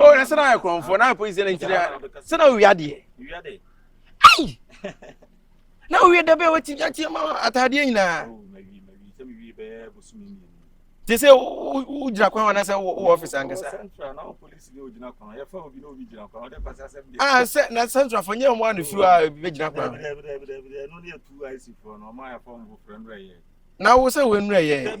o na sɛ na ayɛ korɔmfoɔ na ayɛ polisi na nkyerɛ sɛ na owia deɛ ai na owia da bɛɛ wɔti ateɛ ma ataadeɛ nyinaa te sɛ wogyina kwan wana sɛ wowɔ ɔfis ankasa sɛ na centrafo nyɛ ɔmo ano firi a bɛgyina kwan na wo sɛ wɔnnurɛyɛ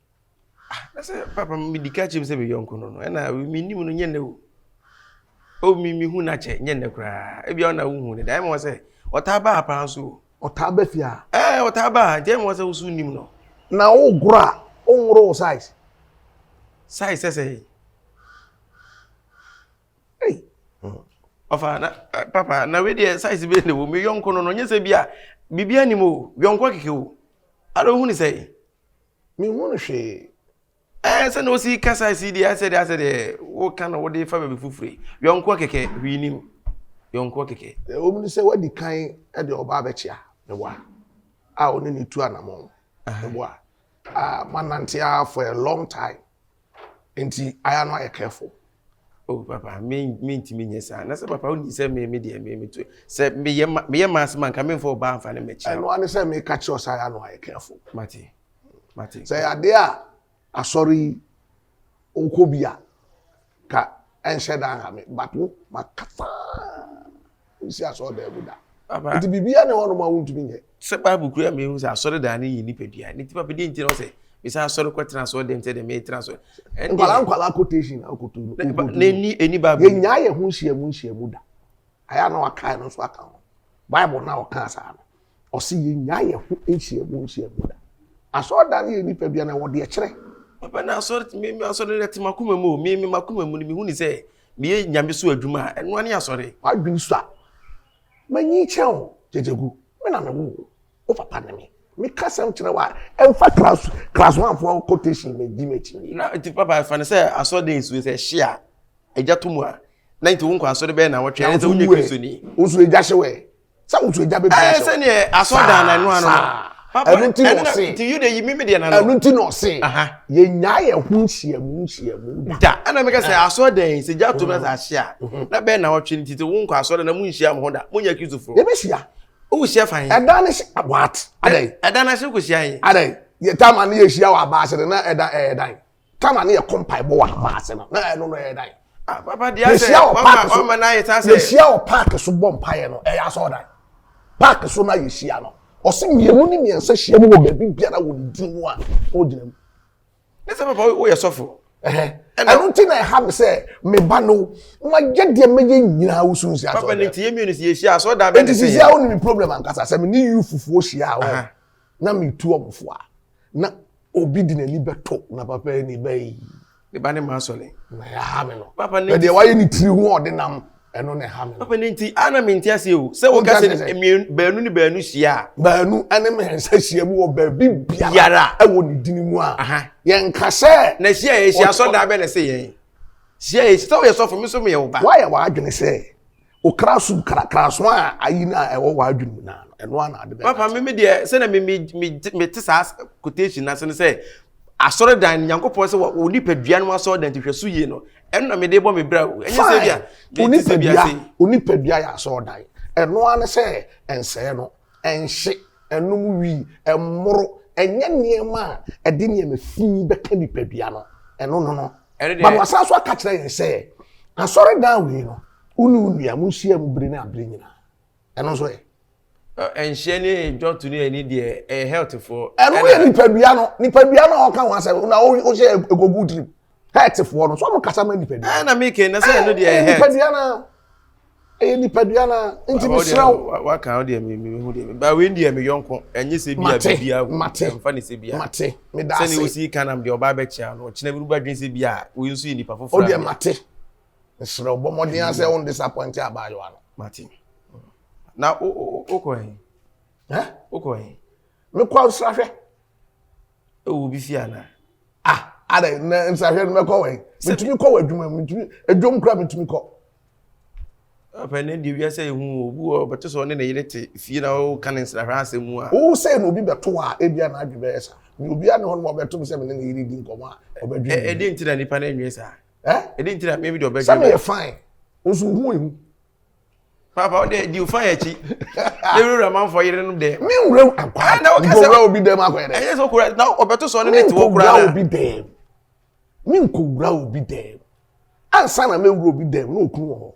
Ah, na sɛ papa medi ka kyerɛ mu sɛ me yɔnko no no, ɛna menim no nyɛ nnɛ o. O me mehu no akyɛ nyɛ nnɛ koraa. Ebia ɔna wohu no da. Ɛma wɔ sɛ ɔtaa baa paa nso o. Ɔtaa ba fie a? Ɛɛ ɔtaa baa nti ɛma wɔ sɛ woso nim no. Na wogoro a, wonworo wo size? Size sɛ sɛ Ei. Ɔfa na eh, papa na wei deɛ size bɛyɛ ne wo me yɔnko no no nyɛ sɛ bi a biribiara nim o yɔnko akeke o. Ara ohun sɛ Menhunu hwee. Ɛɛ sɛnea osi kasa si deɛ asɛ deɛ asɛ deɛ woka na wode fa baabi foforo yɔnkoɔ kɛkɛ hwii nim yɔnkoɔ kɛkɛ. Ɛwɔ mu sɛ wadi kan de ɔba abɛkyea ne wa a ɔne ne tu anamɔn ne wa a manante a for a long time. Nti aya no ayɛ careful. Oh papa me me ntumi nyɛ saa na sɛ papa wo nim sɛ me me deɛ me me to sɛ me yɛ ma me yɛ maase ma nka me nfa ɔbaa nfa ne mɛkyia. Ɛno ane sɛ me ka kyerɛ sɛ aya no ayɛ careful. Mate mate. Sɛ yɛ adeɛ a asɔre yi wokɔ bi a Ka ɛnhyɛ da nha me but wo maka paa nsi asɔɔdan mu da. Papa. Nti biribiara ne hɔnom a wontumi nyɛ. Sɛ Bible kura mi ehu sɛ asɔredan no yɛ nipadua ne ti papa deɛ nti na ɔsɛ mesan asɔre kɔ tena asɔre dɛm sɛ deɛ meyɛ tena asɔre. Nkwalaa nkwalaa quotation na akoto no. N'ani ɛni Bible. Yɛ nyaa yɛ ho nhyiamu nhyiamu da. Ayɛ na wakae no nso aka ho. Bible na ɔka saa no. Ɔse yɛnnyaa yɛn ho nhyiamu nhyiamu da. Asɔredan no yɛ nnipa bia na wɔ deɛ kyerɛ. Papa na asɔre me me asɔre no te makoma mu o me me makoma mu no mehu ne sɛ meyɛ nyame so adwuma a ɛnoa ne asɔre. Wadwene so a manyi kyɛn o gyegyegu me na me wo wo papa ne me meka sɛm kyerɛ wa ɛmfa kras kraswanfoɔ quotation me di m'akyi ni. Na nti papa ɛfa ne sɛ asɔre dan nsuo sɛ ɛhye a ɛgya to mu a na nti wo nkɔ asɔre bɛyɛ na wɔtwɛn ɛsɛ wonyɛ kristo ni. Nso ɛgya hye wɛ. sɛ wotu agya bɛ bi ahyɛ sɛ neɛ asɔdan na ɛno ano ɛno nti na ɔse nti yuda yi mimi deɛ na no ɛno nti na ɔse yɛnya yɛ ho nhyiamu nhyiamu da ɛna meka sɛ asɔdan yi sɛ gya to na sɛ ahye a na bɛn na ɔtwe nti sɛ wonkɔ asɔdan na monhyia mo ho da monyɛ kristofo yɛbɛhyia wohyia fa he ɛda ne hyɛ what adɛn ɛda no ahye wohyia he adɛn yɛtama ne yɛhyia wɔ abaase no na ɛda ɛdan Tama ne yɛkɔ mpaebɔ wɔ hama ase no na ɛno no ɛyɛ dan ah, yɛhyia wɔ paaki so yɛhyia wɔ paaki so bɔ mpaeɛ no ɛyɛ asɔɔ dan paaki so na yɛhyia no ɔse mmienu ne mmiɛnsa hyia mu wɔ baabi biara wɔ ne din mu a ɔgyina mu ne sɛ papa woyɛ sɔfo ɛno nti na ɛha me sɛ meba no mayɛ deɛ mɛyɛ nyinaa wo sunsi asɔdɛnti sisi a wone me problem ankasa sɛ mene yu fufuo hyia a na metu ɔmofoɔ a na Obi de n'ani bɛto na papa ani bɛyi. Ne ba ne ma asɔ ne. Na ɛha me no. Papa ne. Ɛdeɛ wayɛ ne tiri ho ɔde nam ɛno na ɛha me no. Papa ne nti ana me nti ase o. Sɛ woka sɛ mmienu baanu ne baanu hyia a. Baanu ɛne mmiɛnsa hyia mu wɔ baabi biara ɛwɔ ne dini mu a. Yɛn nka sɛ. Na hyia yɛ hyia sɔ daa bɛ na ɛsɛ yɛn. Hyia yɛ sɛ woyɛ sɔfo mi so mi yɛ wo ba. Wayɛ w'adwene sɛ okra su krakraso a ayi no a ɛwɔ w'adwene mu naa no ɛno a na ade bɛka papa me me deɛ sɛdeɛ me me me me te saa quotation no ase no sɛ asɔredan no nyankopɔn sɛ wɔ nipadua no asɔredan nti hwɛ so yie no ɛno na mede bɔ me bra o ɛnyɛ sɛ bia onipadua onipadua yɛ asɔredan ɛno a ne sɛ ɛnsɛɛ no Ɛnhye, ɛnom wi, ɛmmoro, ɛnyɛ nneɛma a ɛde nneɛma fi bɛka nipadua no, ɛno no no. Ba no wasan so aka kyerɛ yɛn sɛ, asɔredan wei no, wo ne wo nua monhyia mu bere ne abere nyinaa. Ɛno nso ɛ? Ɛnhye ne dwɔto ne ani deɛ, ɛyɛ healthfoɔ. Ɛno yɛ nipadua no, nipadua no a ɔka ho asɛm, na wohyɛ ɛkɔgu wo tirim. hɛɛtefoɔ no so ɔmo kasa ma nipadua. ɛna ah, mi kɛ na sɛ ɛno deɛ ɛyɛ hɛɛt. nipadua na ɛyɛ nipadua na nti mi sira o. waka awo deɛ mi mi hu deɛ mi ba wei deɛ mi yɔnko ɛnye sɛ bia bibi awo ɛnfa ne sɛ bia mate mi da ase sɛni osi kanam deɛ ɔba abɛkye ano ɔkyina bi ruba dwen sɛ bia oyi nso yɛ nipa foforɔ. o deɛ mate nsira o bɔmɔden asɛ o n disappoint abaayewa no. mate na o o o kɔ yɛn. ɛ o kɔ yɛn. mi kɔ nsirahwɛ. ɛwɔ obi fie anaa ah ada na nsahwɛ no mɛkɔ wɛn metumi kɔ wɔ adwuma metumi adwom kora metumi kɔ apɛ ne deɛ wiase yɛ hu obi wɔ ɔbɛte sɛ ɔne ne yere te fie na ɔka ne nsrahwɛ asɛm mu a wo sɛ na obi bɛto a ebi a n'adwe bɛyɛ sa ne obi a ne hɔ no ma ɔbɛto me sɛ me ne ne yere di nkɔmmɔ a ɔbɛdwe me ɛde nti na nipa no anwie saa ɛde nti na meme deɛ ɔbɛdwe sɛ meyɛ fine nso hu ehu Papa ɔdɛ di ofa yɛ akyi. Ne wura manfoɔ yere no dɛ. Me wura akwa. Ah, na ɔkasa. Nkowura obi dɛm akɔyɛ dɛ. Ɛyɛ sɛ ɔkura na ɔbɛto sɔɔ ne ne te wɔ kura na. Nkowura obi dɛm. Me nkowura obi dɛm. Ansa na me wura obi dɛm na okunu wɔ hɔ.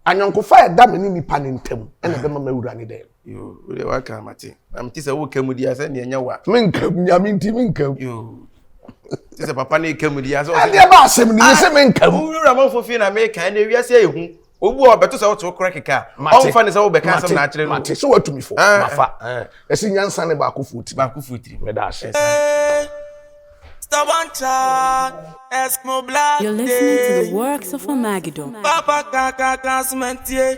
Anyɔnkofa a ɛda me ne nipa ne ntam ɛna ɛbɛma me wura ne dɛm. Yoo, wo deɛ waka mate. Na mete sɛ woka mu di a sɛ neɛ nyɛ wa. Menka mu, nyame nti menka mu. Yoo. Te sɛ papa ne ka mu di a sɛ ɔsɛ. Adeɛ ba asɛm ni, yɛ sɛ menka mu. Wura manfo fie na meka, ɛnɛ wiase ayɛ hu. Obu a ɔbɛto sɛ woto korɛ keka. Ɔmfa ne sɛ wobɛka asɛm na akyerɛ no. Mate, mate, sɛ watumi fo, mafa. Ɛsɛ nyansa ne baako fo tiri. Baako fo tiri. Meda ase. Stubborn child, Eskimo black. You're listening to the works of Armageddon. Papa kaka kaka sumentie.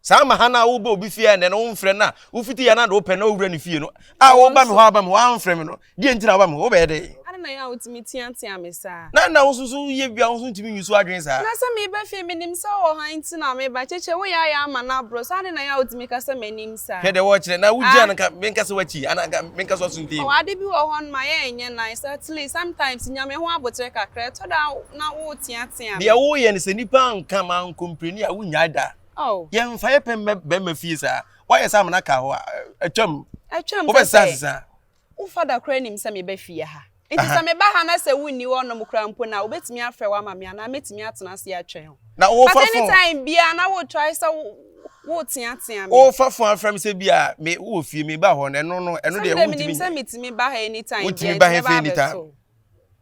Saa ma ha no a woba obi fie a ɛnɛ no womfrɛ no a wofiti yɛ no ade wopɛ na wowura ne fie no a woba me hɔ aba me hɔ amfrɛ me no deɛ nti na woba me hɔ wobɛyɛ dɛn? Adɛn na ɛyɛ a wotumi teatea me saa? Na na wo nso so woyɛ bi a wo nso ntumi nyi so adwene saa? Na sɛ meba fie menim sɛ wowɔ hɔ nti na meba. Kyekyɛ wo yɛ ayɛ ama no aboro saa adɛn na ɛyɛ a wotumi ka sɛ m'anim saa? Hwɛ deɛ wɔrekyerɛ na wogyina no nka menka sɛ woakyi anaa nka menka sɛ ɔso nti. Ɔwɔ ade bi wɔ hɔ no ma yɛ ɛnyɛ nice at least sometimes nya me ho aboterɛ kakra ɛtɔ da a na woreteatea me. Deɛ woreyɛ no sɛ nnipa anka manko mprɛni a wonnyae da. Yɛmfa yɛ pɛ mmɛ bɛrima fie saa. Woayɛ sɛ amena ka hɔ a, atwam. Atwam sɛ sɛ wo fada koraa nim sɛ meba fie ha. Nti sɛ meba ha na sɛ wonni hɔnom koraa mpo no a, wobɛtumi afrɛ wo ama me anaa mɛtumi atena ase atwɛn wo. But anytime biara na woretrae sɛ woreteatea me. Worefa fon afrɛ me sɛ bi a me wowɔ fie meba hɔ no, ɛno no, ɛno deɛ wontumi nyɛ. Sɛ menim sɛ metumi ba ha anytime biara nti mɛba abɛto wo.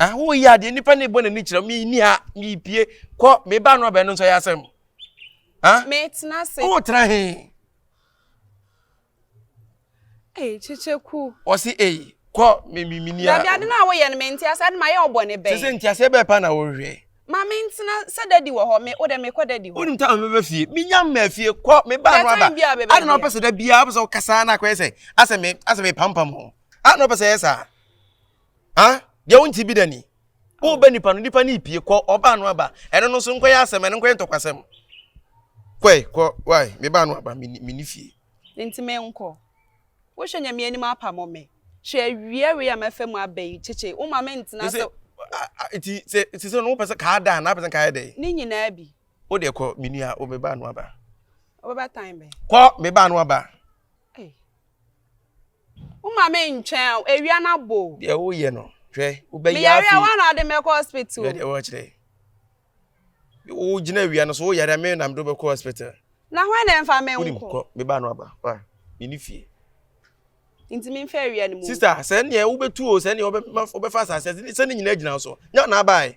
Ah, woyi adeɛ nipa na ebɔ n'ani kyerɛ mi ni ha mi pie kɔ mi ba no abɛn no nso yɛ asɛm. Ah, mi tena se. O tena he. Ee kyekyeku. Ɔsi ee kɔ mi mi mi ni a. Dabi ade na awo yɛ no mi nti ase ade ma yɛ ɔbɔ ne bɛn. Sese nti ase bɛɛ pa na wɔhwɛ. Ma mi ntena sɛ dadi wɔ hɔ mi o dɛ mi kɔ dadi hɔ. Onim ta mi bɛ fie mi nya mɛ fie kɔ mi ba no aba. Ade na ɔpɛ sɛ da bia ɔpɛ sɛ ɔkasa na akɔyɛ sɛ asɛ mi asɛ mi pampam ho. Ade na ɔpɛ sɛ yɛ saa. Ha, deɛ wonte bi da ni. Woba nipa no, nipa no repie. Kɔ, ɔbaa no aba. Ɛno no nso nkɔyɛ asɛm, ɛno nkɔyɛ ntɔkwasɛm. Kɔe, kɔ, wae, me baa no aba, menni fie. Enti menkɔ? Wohwɛ nea me anim apamo me. Hwɛ awia wei a mafa mu aba yi, kyekye, woma mentena sɛ. Enti sɛ, sese no wopɛ sɛ kaa da anaa wopɛ sɛ nka ayɛ dɛn? Ne nyinaa bi. Wo deɛ kɔ, me nua, o, me baa no aba. Ɔbɛba tan bɛn? Kɔ, me baa no aba. Woma me ntwɛn o, awia no abɔ o. Deɛ woyɛ no, hwɛ, wobɛyɛ afei. Meyare a, woa na wode me akɔ hospital. Hwɛ deɛ wɔkyerɛ. Wogyina awia no so, woyare a, me na mede wobɛkɔ hospital. Na hwan na ɛmfa me nko? Wonim kɔ, me ba no aba, wa, menni fie. Nti memfa awia no mu. Sista, sɛ neɛ wobɛtu o, sɛ neɛ wobɛfa asase, sɛ ne nyinaa gyina so, nyɛ na abae.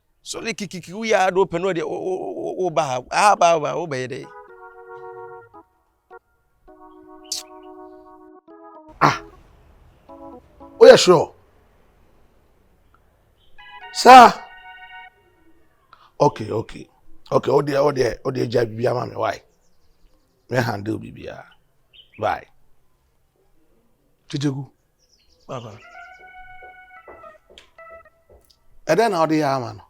So ne kikiki wo yɛ ado pɛ no ɔde wo ba ha aha ba ba wo bɛyɛ dɛ. Ah, o yɛ sure. Sir. Okay, okay, okay. O deɛ o deɛ o deɛ gya bibi ama mi why? Me handle bibi a why? Titiku. Baba. Ɛdɛn na ɔde yɛ ama no?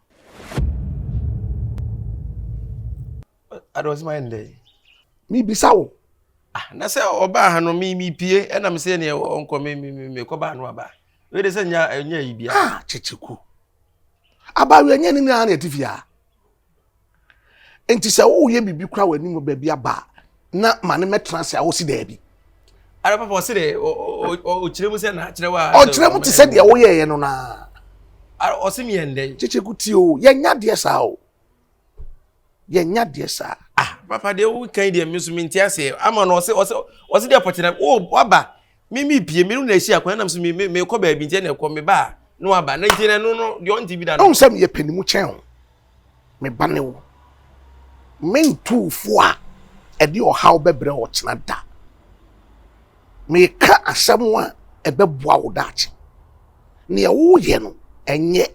Adɔsima yɛ ndɛ yi. Mibisa wo. Ah, na sɛ ɔbaa ha no mi mi pie ɛna mi sɛ neɛ ɔnkɔ mi mi mi kɔ baa no aba. Wei de sɛ nya nya yi bia. Ah, kyekyeku. Aba wia nya ne nyinaa na ɛte fie a. Enti sɛ woyɛ biribi kora w'anim wɔ baabi aba a, na ma no mmɛtena ase a wosi daabi. Ara papa ɔsi dɛ ɔkyerɛ mu sɛ na akyerɛ wa. Ɔkyerɛ mu te sɛ deɛ woyɛɛyɛ no naa. Ara ɔsi mi yɛ ndɛ. Kyekye kuti o, yɛnya deɛ saa o. Yɛnya deɛ saa. Ah papa deɛ wokan deɛ mi nso mi nti aseɛ ama no ɔsi ɔsi ɔsi deɛ pɔkyerɛ o waba. me me pie me no na ɛsi akwan nam so me me mekɔ baabi nti na ɛkɔ me ba a na waba na nti na ɛno no deɛ ɔnte bi da no ɛhu sɛ meyɛ panimu kyɛn wo me ba ne wo mentuufo a ɛde ɔhaw bɛbrɛ ɔkyena da meka asɛm a ɛbɛboa wo daakye nea woyɛ no ɛnyɛ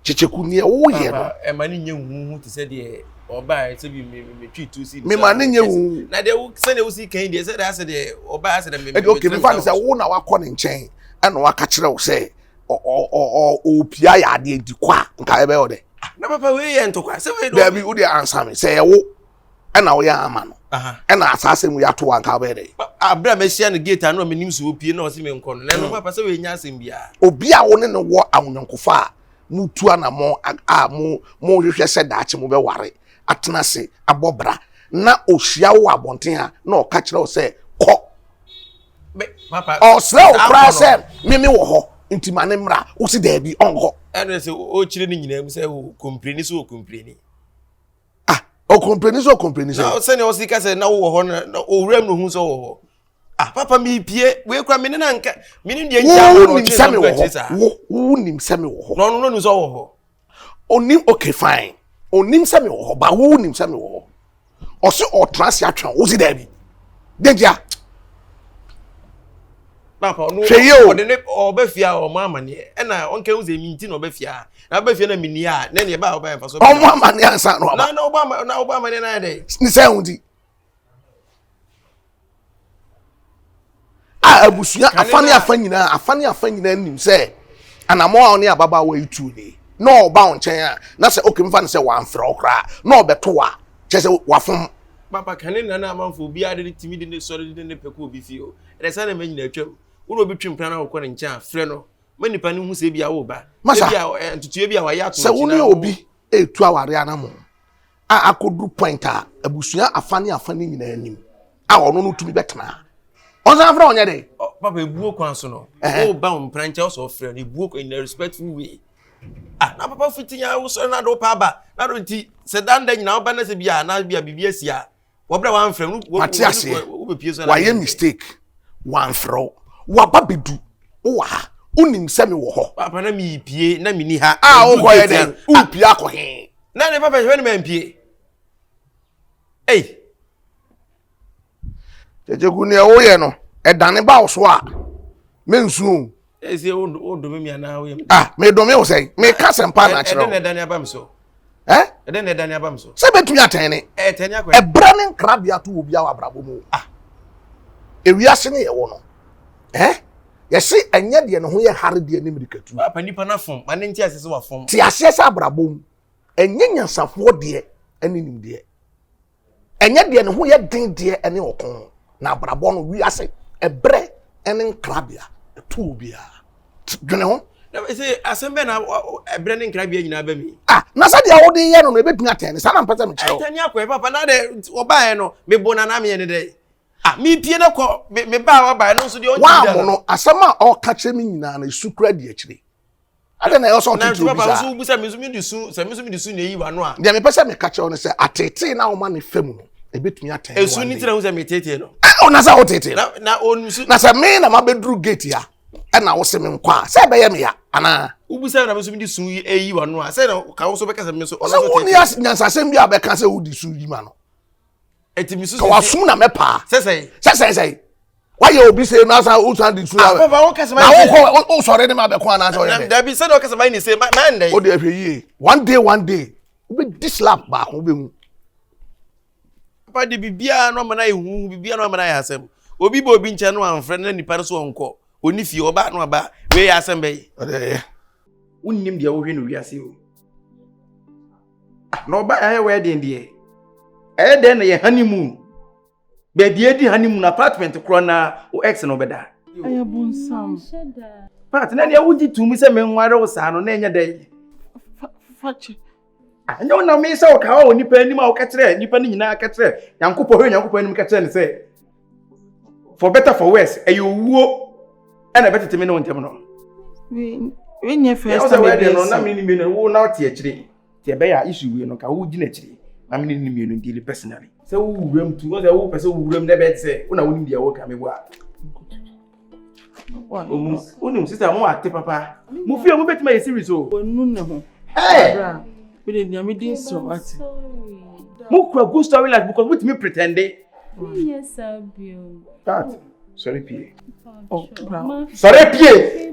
Kyekyeku, nea woyɛ no. Ɛma ne nyɛ hu hu te sɛ deɛ ɔbaa sɛ bi metwi tu si. Mema ne nyɛ hu. Na deɛ sɛdeɛ wosi kan deɛ sɛ deɛ asɛ deɛ ɔbaa asɛ deɛ me. Ɛdi oke mefa ne sɛ wo na wakɔ ne nkyɛn ɛna waka kyerɛ wo sɛ ɔpia yɛ adeɛ nti kɔ a nka ɛbɛyɛ ɔdɛ. Na papa wei yɛ ntokwa sɛ wei dɛ. Dabi wo deɛ ansa me sɛ yɛ wo. ɛna woyɛ ama no ɛna asaase mu yɛato anka wobɛyɛ dɛ aberɛ a mɛhyia no gate ano a menim sɛ ɔpie na ɔse menkɔ no na ɛno papa sɛ wɔɛnya asɛm biaa obi a wo ne no wɔ awonyankofa a motu anammɔ a mohwehwɛ sɛ daakye mobɛware atena ase abɔ bra na ɔhyia wo wɔ abɔnten a na ɔka kyerɛ wo sɛ kɔ ɔsrɛ wo koraa sɛ meme wɔ hɔ nti ma ne mmra wo se daabi ɔnkɔ ɛno sɛ ɔkyerɛ no nyinaa mu sɛ kɔmpireni sɛ ɔkɔmpireni ah ɔkɔmpleni sɛ ɔkɔmpleni sɛ. na sɛnea ɔsi ka sɛ na wowɔ hɔ na owura mu ohun sɛ ɔwɔ hɔ ah papa mi pie wei kura mi ne na nka mi ne deɛ nkyɛn wɔ ɔtwe sɛ mi wɔ hɔ wo wo nim sɛ mi wɔ hɔ. na ɔno no nim sɛ ɔwɔ hɔ. onim okay fine onim sɛ mi wɔ hɔ ba wo nim sɛ mi wɔ hɔ ɔsi ɔtena ase atwɛn o si dɛbi dɛgya. hwɛ yie o. ɔde ne ɔbɛ fie a ɔmo amaneɛ ɛna ɔnka ehu sɛ mi nti na ɔbɛ fie a na ɔbɛ fie na mi ni a na ɛna ɛba a ɔbɛ nfa so. ɔmo amaneɛ ansa na ɔba. na na ɔba ama na ɔba amaneɛ na ayɛ dɛ. ne sɛ ɛho ti. a abusua afa ne afa nyinaa afa ne afa nyinaa nim sɛ anamɔ a ɔne ababaawa yi tu ni na ɔba wɔn nkyɛn a na sɛ oke nfa ne sɛ wɔamfrɛ ɔkora na ɔbɛto wa kyɛ sɛ wafom. papa kane nana amanfo obiara de ne timi de ne sɔre de ne pɛ kɔ obi fie o. Ɛdɛ saa nneɛma nyinaa atwam. Wo na obi twe mpena na wokɔ ne nkyɛn a, frɛ no ma nipa no hu sɛ ebi a woreba. Masa, ebi a ntutuo bi a wayɛ ato Sɛ wo ne obi retu aware anamo a akɔduru point a abusua afa ne afa ne nyinaa nim a ɔno no tumi bɛtena a, ɔnsan frɛ ɔnyɛ dɛ. Papa ebuo kwan so no. Woba wo mpena nkyɛn ɔsɛ ɔfrɛ no ebuo kwan in a respectful way. Ah, na papa fiti ya wosɔre na de wopɛ aba. Na do nti sɛ da nda nyinaa woba na sɛ bi a na bi a biribi asi a wɔbrɛ wamfrɛ no mate aseɛ wayɛ mistake wamfrɛ wo waba bɛdu wowɔ ha wonim sɛ mewɔ hɔ papa na mepie na menni ha a wokɔ yɛ dɛn wopie akɔ he na ne papa hwɛ ne mampie ei gyegye gu neɛ woyɛ no ɛdane ba wo so a mensuo ɛsɛ eh, wo dome mi anaa woyɛ me ah me dome wo sɛ me ka sɛ mpa na eh, akyerɛ wo ɛdɛ na ɛda ne aba mi so ɛ eh? ɛdɛ na ɛda ne aba mi so sɛ bɛtumi atɛn ne ɛtɛn ne akɔyɛ ɛbrɛ ne nkrabea to wɔ bi awɔ abrabɔ mu ah ewiase ne yɛ wɔ no ɛ yɛsi ɛnyɛ deɛ ne ho yɛ hare deɛ ne mirikatu apa nipa na fam ma ne nti ase sɛ wa fam te aseɛ sɛ abrabɔ mu ɛnyɛ nyansafoɔ deɛ ɛne nimdeɛ Ɛnyɛ deɛ ne ho yɛ den deɛ ɛne ɔko, na abrabɔ no wiase ɛbrɛ ɛne nkrabea ɛto obiara. Dwene ho. Na ɛsɛ asɛm bɛn na ɛbrɛ ne nkrabea nyinaa bɛ mi. Ah, na sɛdeɛ wode yɛ no no ɛbɛtumi atɛn ne saa na mpɛ sɛ mekyerɛ wo. Ɛtɛn akɔ ɛ papa na dɛ ɔbaeɛ no mebo na na meyɛ ne dɛ. Ah, mepie no kɔ me baa wabaeɛ no nso deɛ ɔnti da no. Woamono asɛm a ɔka kyerɛ me nyinaa no ɛsu kura di akyire. adɛn na ɛwɔ sɛ ɔtete obi saa nso wobisa me nso mede su sɛ me nso mede su na ɛyi wano a deɛ mepɛ sɛ meka kyerɛ wo no sɛ atetee na woma ne fa mu no ɛbɛtumi atɛn ɛsu ne tena ho sɛ metetee no ɔna sɛ wotetee no na ɔnusu na sɛ me na mabɛduru gate a ɛna wo se me nkɔ a sɛ ɛbɛyɛ meya anaa wobisa na me nso mede su yi ɛyi wano a sɛ na ka wo so bɛka sɛ me nso ɔsɛ woni nyansasɛm bi a bɛka sɛ wode su yi ma no Eti mi susu. Kawasom na mɛ paa. Sɛsɛ. Sɛsɛ sɛ. Wayɛ obi sɛ na asa o san di su. Ah papa o kasa ma. Na o kɔ o sɔre ne ma bɛ kɔ anasa o yɛ dɛ. Dabi sɛ na o kasa ma ni se ma ma ndɛ. O de ɛhwɛ yie. One day one day. O bɛ di slap baako o bɛ hu. Papa de bibiara no amana ehu bibiara no amana yɛ asɛm. Obi bɔ obi nkyɛn no anfrɛ na nipa no so ɔnkɔ. Oni fie ɔba no aba. Wei yɛ asɛm bɛyi. Ɔde yɛ. wonnim deɛ wohwɛ no wiase o na ɔba yɛayɛ wedding deɛ ɛyɛ dɛn na yɛ honeymoon baabi adi honeymoon apartment korɔ na wo ex na ɔbɛda ɛyɛ bonsam part na neɛ wogye tumi sɛ menware wo saa no na ɛnyɛ dɛn fakyɛ ɛnyɛ wo nam sɛ woka wɔ nipa anim a woka kyerɛ nipa no nyinaa ka kyerɛ nyankopɔn hwɛ nyankopɔn anim ka kyerɛ ne sɛ for better for worse ɛyɛ owuo ɛna ɛbɛtete me ne wo ntɛm no wenyɛ first time ɛbɛyɛ no na me ne mmienu wo na wote akyire nti ɛbɛyɛ a isu wie no ka wogyina akyire na me ne ne mmienu ndili personally sɛ wowuram tu sɛ wopɛ sɛ wowuram na ɛbɛyɛ te sɛ wo na wonim deɛ woka meboa wonim sista mo ate papa mo fie mo bɛtumi ayɛ series o wɔnu ne ho bra mede nea medi nsɛ wate mo kura good story life because motumi pretende menyɛ saa bio that sɔre pie oh, sɔre pie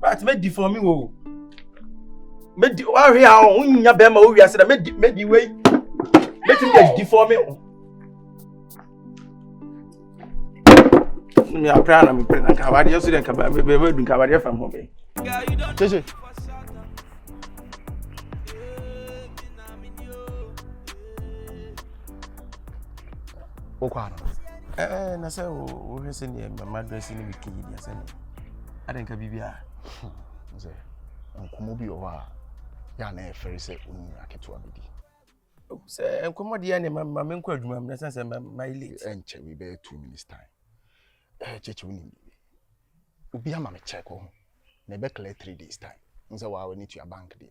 But me di for me wo. Me di wa hwe a o nya be ma o wi ase na me di me di we. Me ti me di for me wo. Me apra na me pre na ka wa de so de ka ba be be dun ka ba de fam ho be. Cheche. wokɔ ano ɛɛ na sɛ wohwɛ sɛ neɛ mama dress no bɛka yi deɛ sɛne ade nka biribi a sɛ nkɔmmɔ bi wɔ hɔ a yɛ a na ɛfɛre sɛ woni aketewa bɛdi sɛ nkɔmmɔ deɛ ne ma menkɔ adwuma mnɛ sɛ sɛ mayɛ late ɛnkyɛ bi bɛyɛ two minutes time kyɛkyɛ wonim biribi obi ama me check ho na ɛbɛkla three days time n sɛ waa w'ani tua bank deɛ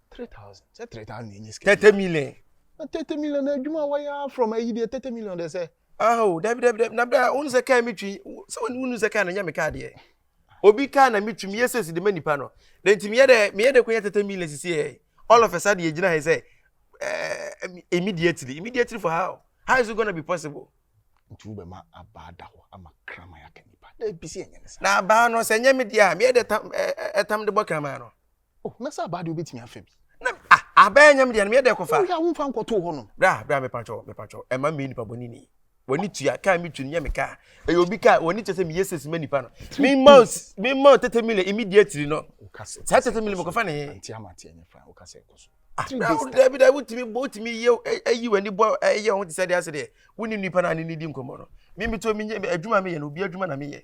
three thousand sɛ three thousand yɛ nye sika. thirty million. na thirty million na adwuma a wɔyɛ from ayi deɛ thirty million de sɛ. aho dabi dabi dabi na bra wɔn sɛ kaa mi twi sɛ wɔn wɔn sɛ kaa na nya mi kaa deɛ obi kaa na mi twi mi yɛ sɛsi de ma nipa no na nti mi yɛ dɛ mi yɛ dɛ ko yɛ thirty million sisi yɛ all of a sudden yɛ gyina ha sɛ ɛɛ immediately immediately for how how is it gonna be possible. nti wo bɛ ma abaa da hɔ ama kraman yɛ aka nipa dɛ bi si yɛ nyɛ ne sa. na abaa no sɛ nyɛ mi deɛ a mi yɛ dɛ tam ɛɛ ɛtam de bɔ kraman no. Oh, na sɛ abaa deɛ wobɛtumi afa bi. Na ah, abaa nyam deɛ no meyɛ dɛ kɔfa. Woyɛ a womfa nkɔtoo hɔ nom. Bra, bra mepatwɔ, mepatwɔ, ɛma mmɛyɛ nipa bɔne ni. W'ani tua, kaa mi tu no nyɛ me kaa. Ɛyɛ obi kaa, w'ani kyɛ sɛ meyɛ sesi ma nipa no. Mema mema o tete mile immediately no. Saa tete mile mekɔfa ne he. Nti ama ateɛ nyɛ fa, woka sɛ ɛkɔ so. Ah, dabi dabi wotumi bɔ wotumi yɛ ayi w'ani bɔ ɛyɛ ho te sɛ deɛ asɛ deɛ wonni nipa no a ne ne di nkɔmmɔ no. Me metuo menyɛ adwuma meyɛ no obi adwuma na meyɛ.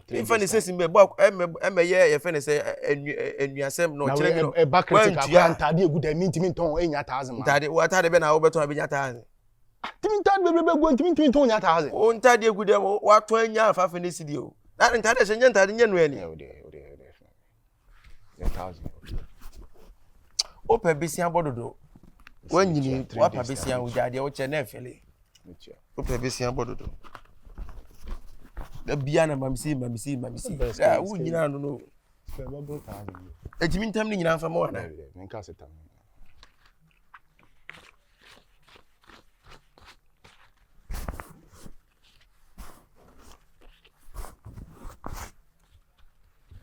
mfa ne sɛsi mbɛ bɔ ɛmɛ yɛ yɛfɛ ne sɛ ɛnuasɛm na ɔkyerɛ mi no ɛba kritika kora ntaade egu dɛ mi ntumi ntɔn enya taazi ma ntaade wɔ ataade bɛ na awobɛtɔn abɛnya taazi timi ntaade bɛ bɛ gu ntumi ntumi ntɔn nya taazi o ntaade egu dɛ watɔn enya afafe ne sidi o ntaade hyɛ nyɛ ntaade nyɛ nuani wopɛ besia bɔ dodo woanyini woapa besia wogyaa deɛ wokyɛ na ɛfɛle wopɛ besia bɔ dodo da bia na mamsi mamsi mamsi a wonyina no no ɛtumi ntam no nyina mfa ma wana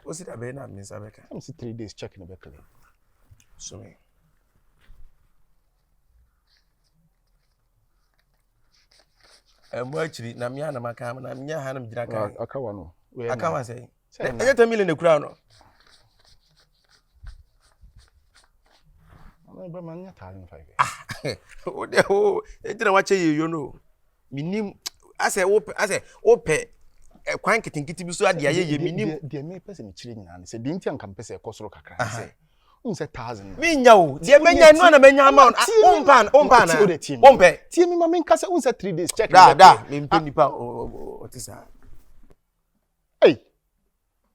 o si dabe na mi nsa bɛ ka. ɛmi si three days check na bɛ clear. sumi. ɛmu akyiri na mi anam aka na mi nya ha na mi gyina kan. aka wa no. aka wa sɛ. ɛnyɛ ten million ekura no. o de o eti na wakyɛ yɛ yɔ no minim asɛ o pɛ asɛ o pɛ kwan nketenkete bi so adi ayɛ yɛ minim. deɛ mi pɛ sɛ mi kyerɛ nyinaa ne sɛ deɛ nti a nka mi pɛ sɛ ɛkɔ soro kakra ne sɛ n sɛ thousand. mi nya o deɛ mɛ nya nua na mɛ nya ama o n pan o n pan na o n pɛ. tie mi ma mi nka sɛ n sɛ three days check. daa daa mi n pɛ nipa o o ti sa. Ei!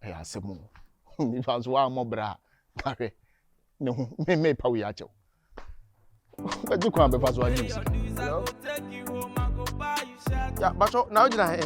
Ɛyɛ asɛm o. Nipa nso wammɔ bra a, na hwɛ ne ho me mepa wei akyɛ wo. Bɛgye kwan bɛfa so agye sika. Ya, bakyɛ na wogyina he?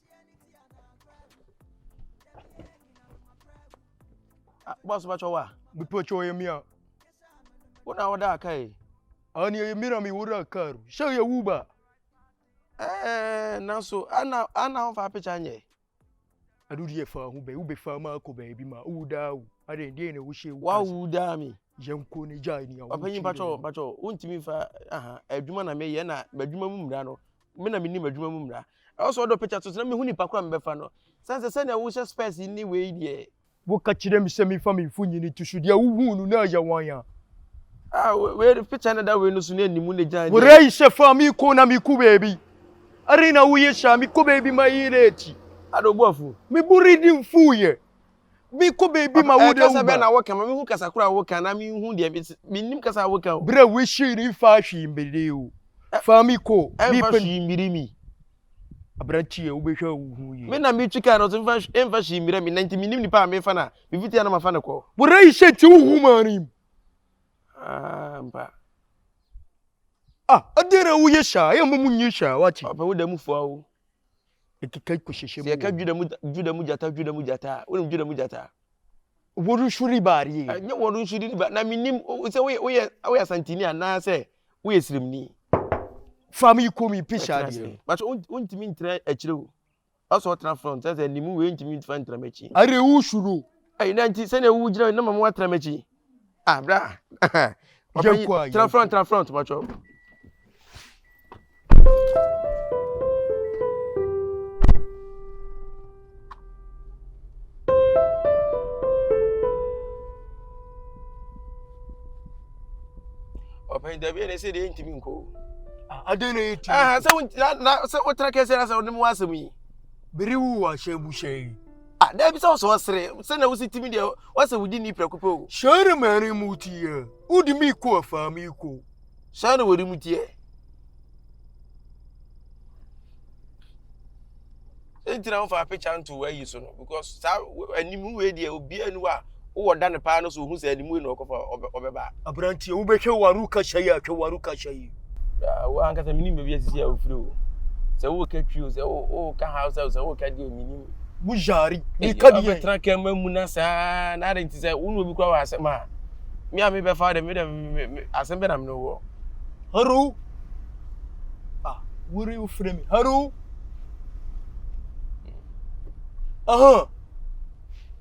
Ah, boss ba chowa. Bi po cho ye mia. Wona wada kai. Ani ye mira mi wura karu. She ye wuba. Eh, nanso ana ana ho fa picture nye. Adu die fa ho be, ube fa ma ko be bi ma. U da u. Ade die ne wo she. Wa u da mi. Yenko ne ja ni. Opanyin pacho, pacho, untimi fa aha, adwuma na me ye na adwuma mu mra no. me na menim adwuma mu mmara. Ɛwɔ sɛ ɔdɔ picture to so na mehu nipa ko a mebɛfa no. Sane sɛ sɛnea wohyɛ spɛs yi ne wei deɛ. Woka kyerɛ me sɛ memfa me mfonini to so deɛ wohuu no na ɛyɛ wan a. Ah wei de picture na da wei no so na ɛnim wo na gyan deɛ. Worei sɛ fa me ko na meko baabi. Adɛn na woyɛ saa mekɔ baabi ma yere akyi. Ada obu afu. Me bo redi mfuiɛ. Bi kɔ baabi ma wo de wo ba. Kasa bɛn na woka ma mehu kasa koro a woka na menhu deɛ mennim kasa a woka o. Berɛ a wohyii no mfa hwee mbiri o. Fa mi kɔ. Ɛmfa hwee mbiri mi. Aberanteɛ wobɛhwɛ a wohu yie. Me na metwi kaa no so mfa ɛmfa hwee mbira mi na nti mennim nipa a mefa no a mefiti ha na mafa no kɔ. Bɔrɛ yi hyɛ nti wohu maa no mu. Ah mpa. Ah adɛn na woyɛ saa yɛ mmɔ mu nyɛ saa wate. Ɔpɛ wo da mu fua o. ɛkeka kɔ hyɛhyɛ mu. Sɛ yɛka Juda mu Juda mu gyata Juda mu gyata a wonim Juda mu gyata. Wɔn nso di baarie. Ɛnyɛ wɔn nso di ba na menim sɛ woyɛ woyɛ woyɛ asantini anaasɛ woyɛ sirimni. Fam yi kɔm yi pisa adeɛ. Bàtò wontumi ntena akyire o. Ɔsɔ ɔtena front sɛ sɛ nimu wei ntumi nfa ntena m'akyi. Are wo suro. Ɛyi na nti sɛnea wogyina na ma mo atena m'akyi. Ah, bra. Papa yi, tra front, tra front, macho. Papa yi, dabi ne se de ntimi nko. Ah, ade na yiti. Ah, se wo na se wo tra kese na se wo ne mu asem yi. Biriwu wa shebu shei. Ah, daabi sɛ ɔsɛ ɔsere sɛ na wosi timi deɛ wɔsɛ wodi ni prɛko pɛ o. Hyɛn na mɛrin mu tiɛ, wodi mi kɔ afa mi kɔ. Hyɛn na wɔdi mu tiɛ. Sɛ ntina wofa apɛkya nto ayi so no because saa anim wei deɛ obiara ni wa. Wowɔ da no paa no so ohu sɛ animue na ɔkɔfa ɔbɛ ɔbɛba. Aberanteɛ wobɛhwɛ waru kasa yi atwa waru kasa yi. Ah, wo ankasa menim baabi asisi a wofiri o. Sɛ woka twi o, sɛ woka hausa o, sɛ woka deɛ menim. Bujari, meka deɛ. Wobɛtena kɛm amu na saa, na adɛn nti sɛ wo ne obi kora wɔ asɛm a, me a mebɛfa dɛ, me dɛ, asɛm bɛ na mene wɔ. Haro, ah, wori wofrɛ me, haro. Aha.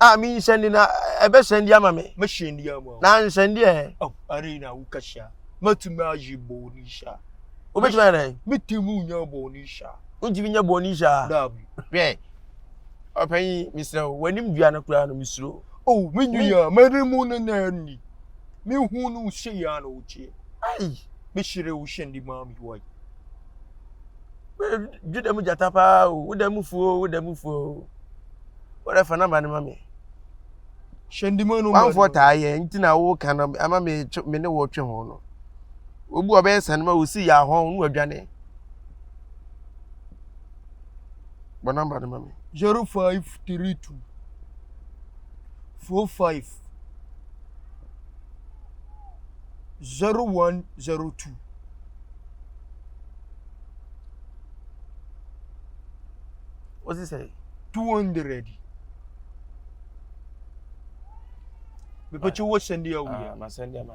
A me nhyɛn de na ɛbɛhyɛn de ama me. Me hyɛn de ama. Na nhyɛn de ɛ. Oh, are na wo kahyia. Matumi ayi bɔne hyia. Wobɛtumi ayɛ dɛn? Metumi nya bɔne hyia. Wontumi nya bɔne hyia. Daabi. Hwɛ. Ɔpanyin, mesrɛ wo, w'anim dua no koraa no mesuro. Oh, me nua, m'anim no na ɛnni. Mehu no sɛ yɛ na ɔteɛ. Ai. Mehyerɛ wo hyɛn de ma me wai. Dwo dɛm gyata paa o, wo dɛm fuo o, wo dɛm fuo o. Wode fa namba no ma me. Hyɛ ndi mu no. Wanfoɔ taa yɛ nti na wo ka no ama me me ne wɔtwe ho no. Obu ɔbɛyɛ sane ma osi yɛ ahɔn no adwane. Bɔ namba no ma me. Zero five three two four five. zero one zero two. What's this say? Two hundred. Mepɛkyɛ wɔ sɛndeɛ woyɛ. Ah, ma sɛndeɛ ma.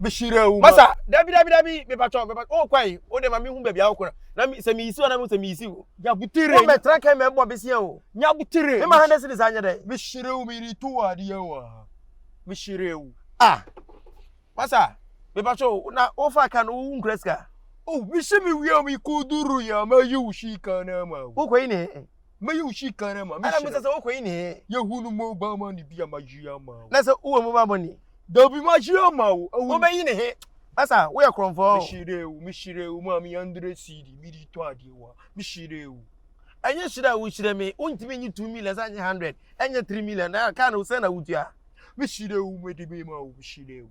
bɛhyira wo masa dabi dabi dabi mepatɔ mepatɔ o kwan o de ma mi hu baabi a wokora na mi sɛ meyisi hɔ na mi sɛ meyisi hɔ nyabutire wɔn mɛtena kɛn mɛ bɔ besia o nyabutire mema hande sini saa nyɛ dɛ mehyira wo miri to wɔ adeɛ wɔ ha mehyira wo a masa mepatɔ o na wofa ka no wo nkura sika o mesi me wia mi kuduru ya ma yi wo shi ka na ma wo wokɔyi ne Mɛyi wo hyi kan ama mehyira. Ɛna misa sɛ wokɔ yi ne he. Yɛhu no mo ba ma ne bi a magyiri ama wo. Na sɛ wowɔ mo ba bɔ ne. Dabi magyiri ama wo. Awu. Wobɛyi ne he. Asa woyɛ korɔmfɔɔ. Mehyira wo mehyira wo maame yandere siidi mede tɔ adeɛ wa mehyira wo. Ɛnyɛ hyira a wohyira me wontumi nye two million sɛ nye hundred ɛnyɛ three million na kaa no sɛ na wotua. Mehyira wo mede me ma wo mehyira wo.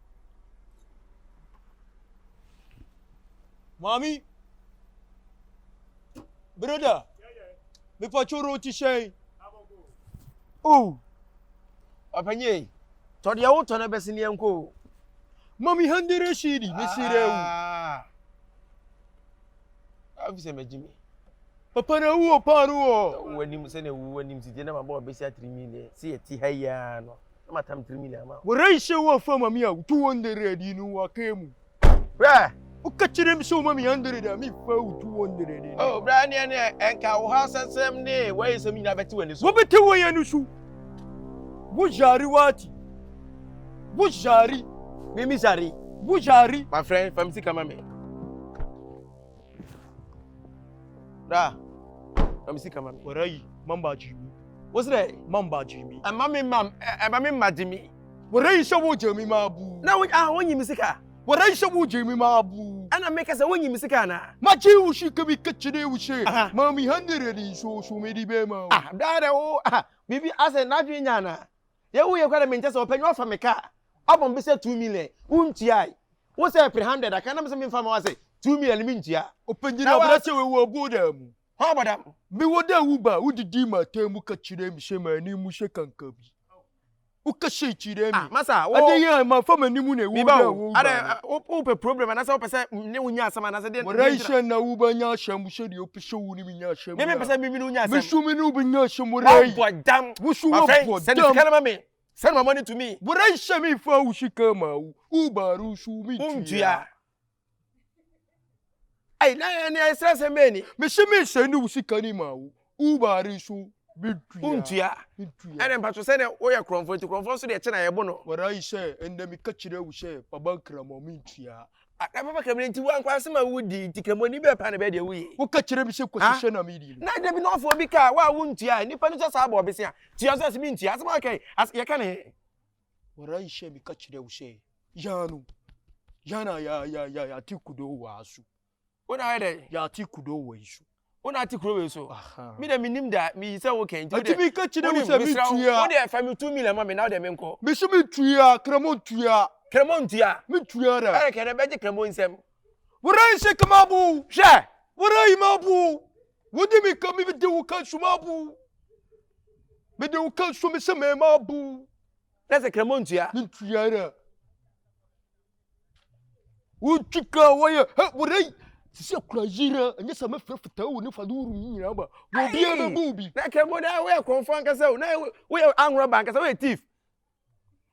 Maame, broda, mepatwo ro ti hyɛn. O, ɔpanyin, tɔ deɛ wotɔ no bɛsi neɛ nko o. Mami handere shidi, mesire wo. Ah. Afi sɛ magye me. Papa na wu o, paa no wɔ. W'anim sɛ na wu w'anim si deɛ na mabɔ ɔbɛsi atiri mi deɛ, si yɛ ti ha yi ara no. Wura yi sɛ wo fa mame a wo two hundred yi no wa kɛ mu. Bra. Wo kɛ kyerɛ me sɛ wo ma me hundred a me fa wo two hundred no. Oh bra ɛneɛ ne ɛnka wo ha sɛ sɛm ne wa yi sɛm nyina bɛ te wani so. Wo bɛ te wo yɛ no so. Wo zari wati. Wo zari. Me mi zari. Wo zari. My friend fa me sika ma me. Bra. Na me sika ma me. Wara yi, mamba Jimmy. What's that? Mamba Jimmy. Ɛma me mam, ɛma me ma Jimmy. Wara yi hyɛ wo Jimmy ma bu. Na wo ah wonyi me sika. Wara yi hyɛ wo Jimmy ma bu. Ɛna me kasa wonyi me sika na. Ma gye wo shi ka bi ka kyerɛ wo sɛ. Ma me hundred nso so me de bɛma wo. Ah, dada wo ah bibi asɛ n'adwene nya na. Deɛ woyɛ koraa na menkyɛ sɛ ɔpanyin ɔfa me car ɔbɔ me sɛ two million wontuae wo sɛ ɛpere hundred aka na me sɛ memfa ma wo ase two million no mentua. Ɔpanyin abrɛkyɛ wei wɔ boda mu. Hwan wɔ boda mu? Me wɔ dɛ wo ba wo didi m'atɛn mu ka kyerɛ me sɛ m'anim mu hyɛ kanka bi wo ka sei kyerɛ me. Ah masa wo. Adɛn yi a manfa m'anim na ɛwɔ dɛ wɔ wo ba no. Adɛn wopɛ problem anasɛ wopɛ sɛ me ne wo nya asɛm anasɛ deɛ. Mmara yi sɛ na wo ba nya asɛm sɛdeɛ ɔpɛ. mímí pɛ sɛ mímí ni wonya asɛm wabɔ dam mafɛn sɛ ne sika no ma me sɛ no mamɔ ne tumi worehyɛ me fa wo sika ma wo wobaro so mentua ai na ɛne ɛsrɛ sɛ mɛni mese mesɛ ne wo sika no ma wo wobare so wontua ɛne mpa so sɛdeɛ woyɛ korɔmfoɔ nti korɔmfoɔ nso deɛ kyɛ na yɛbo no wɔrae sɛ ɛndɛ meka kyerɛ wo sɛ paba nkramɔ mentua Akra papa kra me nti wankɔ asɛm a wodi nti kramoni bɛɛ paa na bɛyɛ deɛ woyɛ. Woka kyerɛ me sɛ kwasi hyɛ na medi no. Na dabi na ɔfo obi kaa wo a wontua ɛ nipa no sɛ saa bɔ ɔbese a tua so ɔse mentua asɛm a ɔka yi as yɛka no he. Warai hyɛ me ka kyerɛ wo sɛ yano yano ayayayaya atiku do wo aso. Wona ayɛ dɛ yɛate kudo wɔ yi so. Wona ate kuro wei so. Me deɛ menim da meyi sɛ wo kɛn nti. Ati mi ka kyerɛ mu sɛ mi tua. Wo deɛ fa mi two million ma mi na wo deɛ mi nkɔ. Mi si mi tua kremo ntua. Kremo ntua. Mi tua dɛ. Ɛyɛ kɛnɛ bɛgye kremo nsɛm. Wura yi se kama bu. Hwɛ. Wura yi ma bu. Wo di mi ka mi di wo ka nsu ma bu. Mi di wo ka nsu mi se mi ma bu. Nɛ se kremo ntua. Mi ntua dɛ. Wotwi ka wɔyɛ hɛ bɔdɛ yi. Sisi akura yira ɛnyɛ sɛ mɛfrɛ fitaa wɔ ne fade wuru yi nyinaa ba. Wɔ obiara bɛbɔ obi. Na kɛmɔ dɛ woyɛ kɔnfɔ ankasa o. Na woyɛ anwurɔba ankasa woyɛ thief.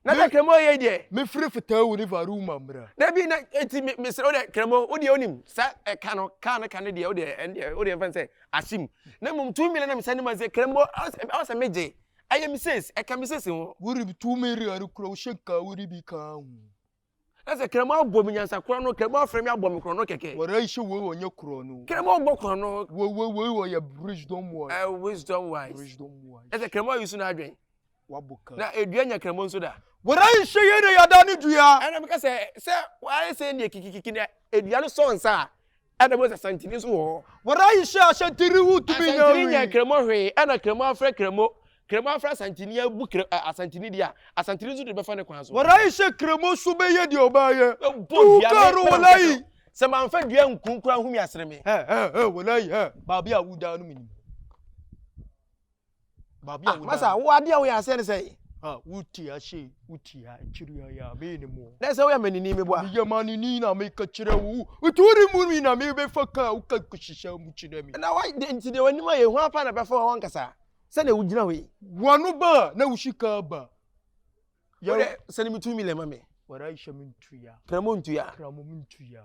Na dɛ kɛmɔ yɛ deɛ. Mɛfrɛ fitaa wɔ ne fade wuru ma mmra. Dabi na eti mesrɛ wo dɛ kɛmɔ wo deɛ onim sa ɛka no kaa no ka no deɛ wo deɛ ɛn deɛ wo deɛ mfa nsɛ asim. Na mmom two million na mesane ma sɛ kɛmɔ ɔsɛ megye. Ɛyɛ me sɛs, ɛka me sɛs ho. Worib tu me re are kura wo shake ka wori bi ka ho. Ɛsɛ krɛmo abɔ me nyansa kura no krɛmo afrɛ me abɔ me kura no kɛkɛ. Wara yi she woi wɔ nye kura no. Krɛmo abɔ kura no. Woi woi woi wɔ yɛ bridge dom wise. Eh wise dom wise. Bridge dom wise. Ɛsɛ krɛmo ayi su na adwen. Wabɔ ka. Na edua nya krɛmo nso da. Wara yi she yɛ na yada ne dua. Ɛna me ka sɛ sɛ wayɛ sɛ ne kikikiki na edua no sɔ nsa a. Ɛna Mose Asantini nso wɔ hɔ. Wara yi hyɛ Asantini ho tumi nyɛ Asantini nyɛ wii. Kremo hwee, ɛna Kremo afrɛ Kremo, Kremo afrɛ Asantini abu Kre ɛ Asantini deɛ a, Asantini nso de bɛfa ne kwan so. Wara yi hyɛ Kremo nso bɛyɛ deɛ ɔbaa yɛ. Bɛbɔ Tuu dua kaa me, no ɛna wara meka yi. sɛ, sɛ manfa dua anku nkoraa ho mi asere me. Hɛ hɛ hɛ wara yi hɛ, baabi a wo daa no menim. Baabi a ah, woda. Masa, wo adeɛ a woyɛ aseɛ ne sɛ. Ah, wote ase, wote ha, akyiri ayɛ a, meyɛ ne mmoa. Dɛ sɛ woyɛ manini meboa. Meyɛ manini na meka kyerɛ wo. Nti wode mu mi na mebɛfa ka a woka nkɔhyehyɛ mu kyerɛ me. Na wa, nti deɛ w'anim ayɛ hwan pa na bɛfa hɔ ankasa? Sɛdeɛ wogyina hɔ yi. W'ano ba a, na wo sika aba. Wodɛ, sɛ ne me two million ma me. Warahyɛ me ntua. Kramo ntua. Kramo me ntua.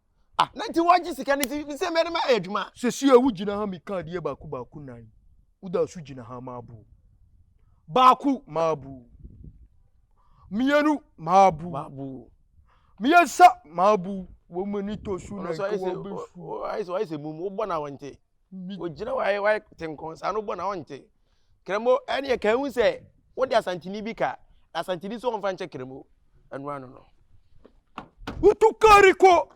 Ah, na nti wɔgye sika no nti sɛ mɛde mayɛ adwuma. Sɛsi a wogyina ha meka adeɛ baako baako nan. Woda so gyina ha maabu. Baako maabu. Mmienu maabu. Maabu. Mmiɛnsa maabu. Wɔn ani tɔ so na nka wɔbɛsu. Ayɛ sɛ mum wobɔ na wɔnte. Ogyina hɔ a wate nkɔn saa no bɔ na ɔnte. Kremo ɛneɛ ka ehu sɛ wode asantini bi ka na asantini nso ɔmfa nkyɛ kremo ɛno ano no. Wotu kari kɔ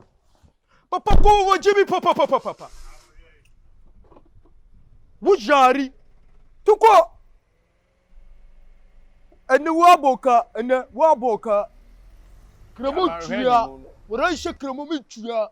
papa kɔ wɔ gyimi papapapapa woyari tukɔ ɛnɛ woabɔ ka ɛnɛ woabɔ ka kremo tua wɔrɛ nhyɛ kremo mi tua.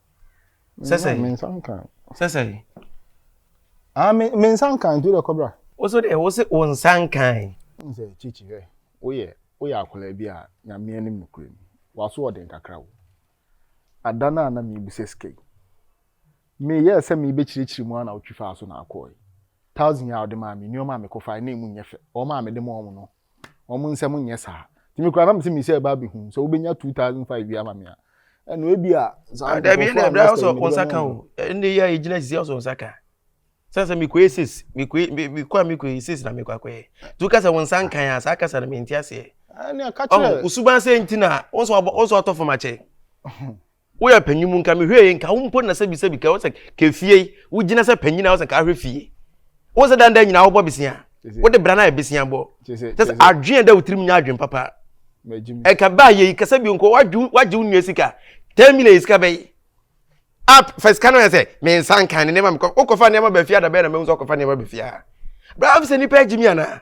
Sɛ sɛ yi. Mensa nkan. Sɛ sɛ yi. Ah, me, me nsa nkan nti wode kɔbra. Wo so deɛ, wo se wo nsa nkan. Wohu sɛ kyikyi hwɛ, woyɛ, woyɛ akwadaa bi a nyame anim nokorɛ ni, w'aso ɔden kakra o. Ada no a na merebisa sika yi, meyɛɛ sɛ merebɛkyirikyiri mu a na wotwi faa so na akɔɔe. Thousand a wode maa me, nneɛma a mekɔfae na ɛmu nyɛ fɛ, wɔn a mede maa wɔn no, wɔn nsam nyɛ saa nti mi kura na mi sɛ mi sɛ ɛba abɛhu sɛ wobɛnya two thousand five bi ama mi a ɛna ebi a. dabi ɛna ɛbɛrɛ ɔsɔ nsa kan o ɛna eyi a egyina sisi ɔsɔ nsa kan sɛnsɛ mi kɔ yɛ six mi kɔ yɛ mi kɔ a mi kɔ yɛ six na mi kɔ akɔ yɛ tu kasa wɔn nsa nkan a saa kasa na mi nti aseɛ ɔhun osuban sɛ nti na ɔsɔ ɔtɔ fam akyɛ. Woyɛ panyin mu nka mehwɛ yie nka wo mpo na sɛbi sɛbi ka wo sɛ ka efie yi wogyina sɛ panyin a wo sɛ ka ahwɛ fie wo sɛ dandan nyinaa wobɔ besia wode bra no ayɛ besia bɔ kyɛ sɛ adwene dɛ wo tirim nyɛ adwene papa ɛka ba yɛ yi kasa bi nko wagye wo nua sika ten million sika bɛyi a fɛ sika no yɛ sɛ me nsa nka ne nneɛma mekɔ wokɔfa nneɛma bɛfia da bɛyɛ na mehu sɛ wokɔfa nneɛma bɛfia bra afisɛ nipa agyimi anaa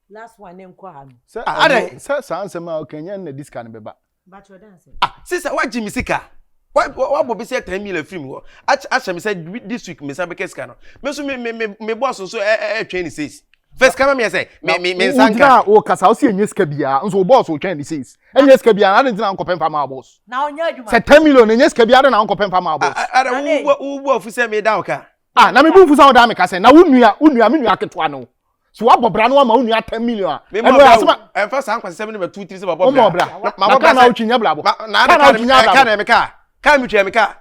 Last one ne nkɔ ha no. Sɛ ah, adɛn? Sɛ saa nsɛm a ɔka nyɛ na di sika no bɛba. Ah, sisa wagye me sika. Wabɔ bi sɛ ten mil afiri mu hɔ. Ahyɛ me sɛ this week me nsa bɛka sika no. Me nso me me me bɔs nso ɛtwɛn ne says. First kama mi ɛsɛ me me me nsa nka. Wogyina o kasa o si enye sika biara nso o bɔs o twɛn ne says. Enye sika biara adi ntina nkɔpɛ nfa maa bɔs. Na ɔnyɛ adwuma. Sɛ ten million enye sika biara adi na nkɔpɛ nfa maa bɔs. Ada wo wo wo afu sɛ me da ɔka. ah na mebu mfu sɛ wodaa meka sɛ na wo nua wo nua me nua ketewa no so wabɔ bra no ama wo nua 10 million a ɛno yɛ asɛm ɛmfa saa nkwasɛm no bɛto tiri sɛ mabɔ bra bra na ka na wotwinya bra bɔ na ka na wotwinya bra bɔ ka na meka ka metwa meka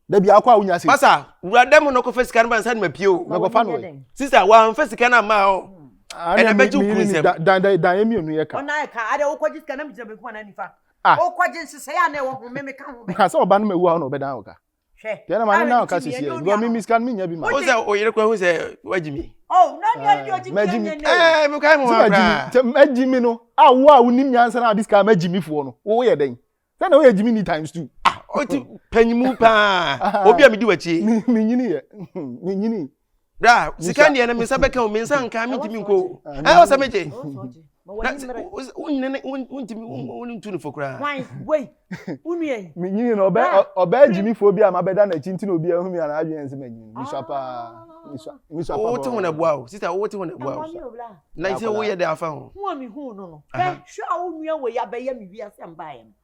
da bi akɔ a wonya sɛ basa wura dɛm no kɔfa sika no ba nsa no mapie o mɛkɔfa no ɛ sista wamfa sika no amma o ɛna bɛgye wo kuru nsɛm dan dan dan yɛ mmienu yɛ ka ɔna yɛ ka ade wokɔgye sika na megyina bɛkuma na nifa wokɔgye nsesɛe a na ɛwɔ ho me meka ho bɛ sɛ ɔba no mawu a ɔna ɔbɛdan wo ka hwɛ deɛ na ma ne na ɔka sisi yɛ because mi mi sika no mi nya bi ma. o sɛ o yere kura ho sɛ wagyi mi. oh na ni ɔdi ɔdi mi yɛ nyɛ ɛɛ mi ka mu wa kura. sɛ ma gyi mi no a wo a wo nim nyansa na adi sika ma gyi mi foɔ no wo yɛ dɛn sɛ na wo yɛ gyi mi ni times two. ah o ti panyimu paa obi a mi di w'akyi. mi nyini yɛ mi nyini. bra sika deɛ no me nsa bɛka o me nsa nka mentumi nkɔ o ɛ wɔ sɛ megye wontu no fo koraa menyini no ɔbɛɛ gyimifoɔ bi a mabɛda n'akyi nti na obi ahu me ana adwene sɛ manyini mesua paa wote ho naboa o sista wote ho naboa o na sɛ woyɛ dɛ afa ho hwɛ a wo nua wei abɛyɛ me wiase mbaeɛ no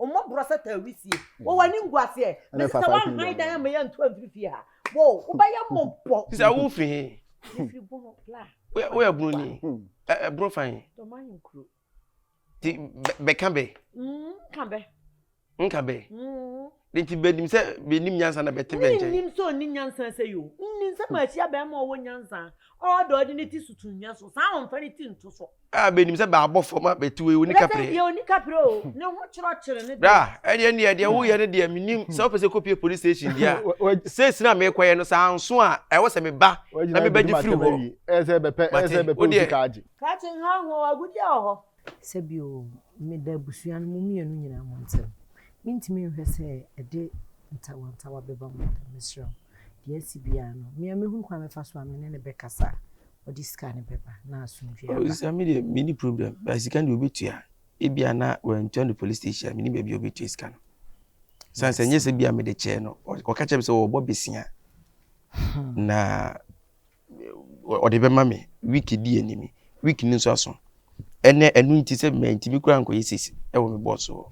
Ɔmmɔ borɔ sɛ taa wisie. Wɔ w'animguaseɛ. Mese sɛ woanhan dan amma yɛantu amfiri fie ha. Wo, wobɛyɛ mmɔbɔ. Sista wofi he? Mefiri Bono, la. Woyɛ Bononi? Ɛ, Bono fa he? Dɔma ahenkuro. Nti bɛka bɛ? Nka bɛ. Nka bɛ? De nti bɛnim sɛ bɛnim nyansa na bɛte bɛ nkyɛn? Mennim sɛ ɔnni nyansa sɛ yo. Nni sɛ mahyia bɛrima a ɔwɔ nyansa, ɔɔdɔ, ɔde ne ti so to nnwa so. Saa a ɔmfa ne ti nto so. A benim sɛ bɛabɔ fam a bɛte wei ɔni kaprɛ. Bɛbɛn deɛ ɔni kaprɛ o, ne ho kyerɔkyere no deɛ. Bra, ɛdeɛ ndeɛ deɛ woyɛ no deɛ menim, sɛ wopɛ sɛ kɔpie police station deɛ a, seesei na meekɔyɛ no, sɛ anso a ɛwɔ sɛ meba na mebɛgye firi hɔ. Mate, wodeɛ. Kate nhaho o, agudeɛ wɔ hɔ. Sɛ bi o, meda abusua no mo mmienu nyinaa mo ntɛm. Mentumi nhwɛ sɛ ɛde ntawantawa bɛba mo ntɛm, mesrɛ wo. Deɛ asi biara no, me a mɛhunu kwan a mɛfa so a me ne no bɛkasa. ɔde sika no bɛba na asomdwoe aba. Ɔsisa mi deɛ mi ni problem ba sika deɛ obetua ebi ana wɔntua no police station mi ni baabi a obetua sika no san sɛ nyɛ sɛ bi a mi de kyɛɛ no ɔka kyerɛ mi sɛ ɔbɔ besia hmm. na ɔde bɛma mi week di anim week ni nso aso ɛnɛ ɛnu nti sɛ mɛ nti mi kura nkɔyɛ sisi ɛwɔ mi bɔs wɔ.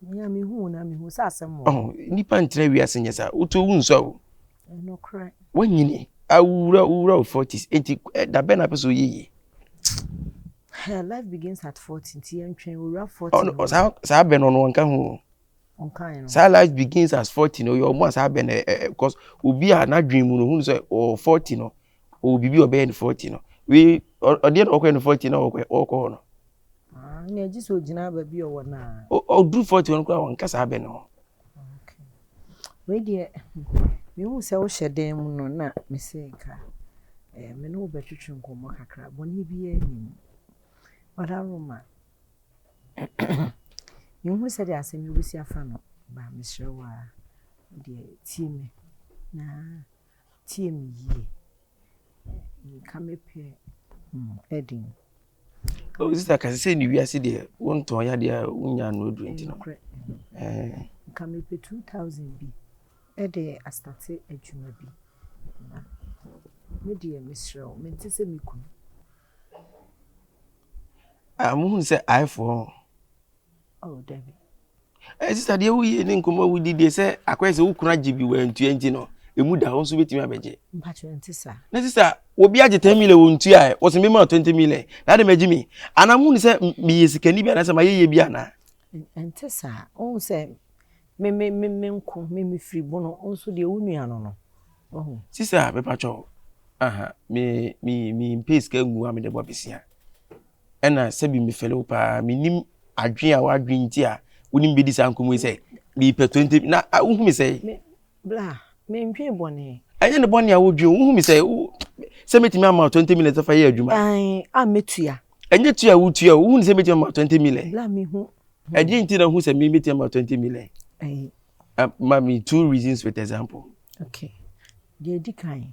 Mia mi hu na mi hu sɛ asɛm wɔ. Ɔhun nipa ntena wiase nyɛ sa wotu owu nsɔ o Nokorɛ. Wanyini, awura wura wo forties, enti da bɛn na apɛ sɛ ɔyɛ yie? Life begins at forty, nti yɛntwɛn owura forty no. Ɔno saa saa bɛn no ɔno ɔnka ho. Ɔnka yɛn no. Saa life begins at forty no ɔyɛ ɔmo a saa bɛn no ɛ ɛ cause obi a n'adwene mu no ohun sɛ ɔwɔ forty no ɔwɔ biribi a ɔbɛyɛ no forty no wei ɔdeɛ na ɔkɔyɛ no forty na ɔkɔ ɔkɔ hɔ no. Ah, na ɛgye sɛ ogyina baabi ɔwɔ naa. Ɔduru forty no koraa ɔnka saa bɛn no ho. Wei deɛ mehu sɛ wohyɛ dan mu no na me se nka me ne wo bɛtwetwe nkɔmmɔ kakra, bɔne biara nni mu. Ɔda Roma, menhu sɛdeɛ asɛm yi wobɛsi afa no ba mesrɛ wo a deɛ tie me na tie me yie. Nka me pɛ ɛden. Oh, sister, kasi sɛ ni wiase deɛ wontɔn yɛ adeɛ a wonya ano aduro nti no. Nka mepɛ 2000 bi ɛde astate adwuma bi. Me deɛ mesrɛ wo, mente sɛ me kunu. Ah, mohunu sɛ aefoɔ Oh dabi. Ɛyɛ sista deɛ wo yie ne nkɔmɔ wo di deɛ sɛ akɔyɛ sɛ wo kunu agye bi wɔantua nti no emu da hɔ nso bɛtumi abɛgye. Mpakyɛ nti sa. Na sista obi agye ten million wɔn tua ɛ wɔsɛ mi ma twenty million na adi ma gye mi ana mu ni sɛ meyɛ sikani bi anasɛ ma yɛ yɛ bi ana. Nti sa ohun sɛ me me me me nko me me firi bono nso deɛ wo nua no no. Ohun. Sista mepatwɔ aha me me me mpɛ sika ngu a me de bɔ besia. Ɛna sɛbi mefɛle wo paa. Menim adwene a w'adwene nti a wone me bɛdi saa nkɔmmɔ yi sɛ mepɛ 20 na wohu me sɛ. Bla, mendwen bɔne. Ɛnyɛ ne bɔne a wodwen wohu me sɛ sɛ mɛtumi ama 20 minutes fa yɛ adwuma. Ae, a mɛtua. Ɛnyɛ tua a wotua wohu ne sɛ mɛtumi ama 20 million. Bla, mehu. Ɛdeɛ nti na wohu sɛ mɛtumi ama 20 million. Ae. Ma me two reasons with example. Okay. Deɛ ɛdi kan.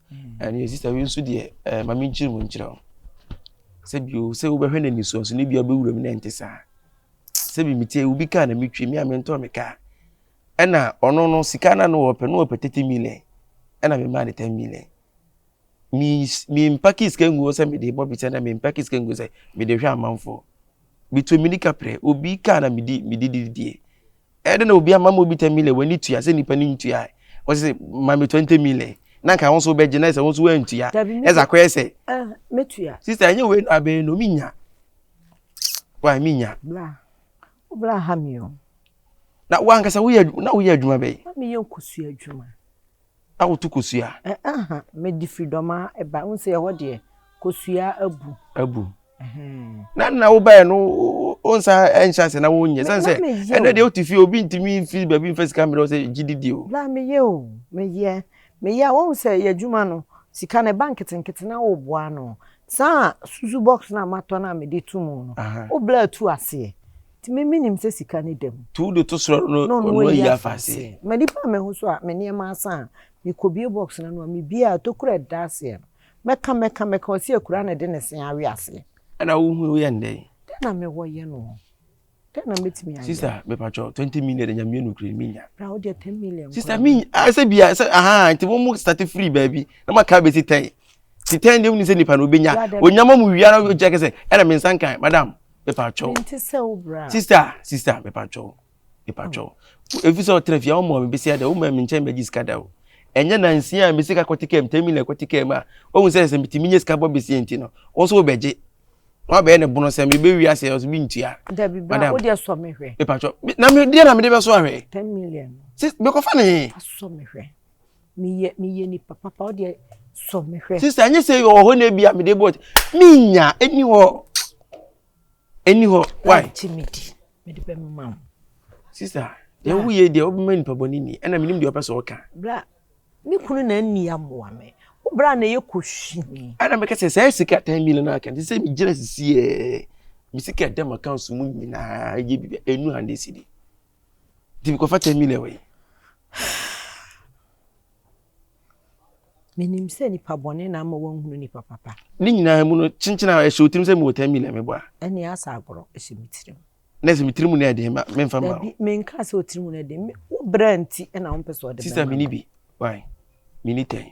Ɛnneɛ sista wei nso deɛ ɛɛ ma menkyerɛ mu nkyerɛ wo sɛ bio sɛ wobɛhwɛ no nisuo nso ne bia bɛwura mu na ɛnte saa sɛ bi metie obi kaa na metwie me a mentɔɔ me kaa ɛna ɔno no sika no no wɔpɛ no wɔpɛ 30 million ɛna memaa no 10 million mempake sika nguo sɛ mede bɔ bi sɛ na mempake sika nguo sɛ mede hwɛ amanfoɔ Metuu mmirika prɛ. Obi kaa na medi mede didi die. Ɛyɛ dɛ na obi ama ma obi tɛ mile w'ani tua sɛ nipa no ntua ɛ. Ɔse sɛ ma me twenty mile na nka wo nso wobɛgye na sɛ wo nso woantua ɛdze akɔyɛ sɛ. Ah mɛtua. Sister ɛnyɛ wei no abɛyɛ no menya. Wai menya. Bra wo bra ha me o. Na wo ankasa woyɛ na woyɛ adwuma bɛn. Na meyɛ nkosua adwuma. a wotu kosua. Ɛɛha mede firi dɔmaa ɛba wohu sɛ ɛhɔ deɛ kosua abu. Abu. Na na wobɛɛ no wonsa ɛnhyɛ ase na wonyɛ sɛn sɛ ɛnɛ deɛ wote fie obi ntumi fi baabi mfa sika mmerɛ sɛ gye didi o. La meyɛ o meyɛ meyɛ a wohu sɛ yɛ adwuma no sika no ɛba nketenkete na woboa no saa susu box no a matɔ no a mede to mu no wobla atu aseɛ. Tumi mi nim sɛ sika ne dam. Tuw de to soro no ɔno ayi afa ase. M'ani baa me ho so a me nneɛma asa a mekɔbue box no ano a mebue a tokuro a ɛda aseɛ no mɛka mɛka mɛka ɔse akuraa na ɛde ne se awe aseɛ. Ɛna wohu woyɛ no dɛn? Dɛn na mewɔ yɛ no hɔ? Dɛn na mɛtumi ayɛ? Sista mepatwɔ 20 million nya mmienu kure menya. Bra wo deɛ 10 million. Sista mi asɛ bia sɛ aha nti mo mo start free baabi na maka bɛsi 10. ti tɛn deɛ woni sɛ nipa no obɛnya onyama mu wia no kyɛ kɛsɛ ɛna me nsa nkan madam mepa twɛw sista sista mepa twɛw mepa twɛw efi sɛ ɔtena fie ɔmɔ me bɛsi ada ɔmɔ me nkyɛn bɛgye sika da o ɛnyɛ na nsia a mesi ka kɔte kɛm tɛmi na kɔte kɛm a ɔhu sɛ sɛ metumi nye sika bɔ bɛsi nti no wɔn nso wɔbɛgye wɔn abɛyɛ ne bono sɛ mebɛ wia sɛ ɔso bi ntua madam mepa twɛw na me deɛ na mede bɛso ahwɛ sɛ mekɔfa ne he meyɛ meyɛ nipa papa wo deɛ sɔ me hwɛ. sista ɛnyɛ sɛ yɛ ɔhɔ na ebi a mede bɔ menya ɛni hɔ ɛni hɔ why. ɛnti mi di mi de bɛ mi ma wo. sista deɛ wo yɛ deɛ ɔbɛma nipa bɔ ne ni ɛna mi nim deɛ ɔpɛ sɛ ɔka. bra mi kunu na ɛni amoa mi wo bra na ɛyɛ ko si mi. ɛna mi kɛ sɛ sɛ sika ten million na kɛ sɛ mi gyina sisi yɛ mi sika dɛm account mu nyinaa ɛyɛ bi ɛnu hundred cedi. Nti mekɔfa 10 million wɔ yi. Menim sɛ nipa bɔne na ama wanhunu nipa papa. Ne nyinaa mu no kyenkyen a ɛhyɛ otirim sɛ mewɔ 10 million mebɔ a. Ɛne asɛ agorɔ ɛhyɛ me tirim. Na ɛsɛ me tirim no ɛden ma memfa ma wo. Menka sɛ otirim no ɛden, wo brɛ nti na wompɛ sɛ ɔde bɛma. Sista mini bi, why? Mini tɛn.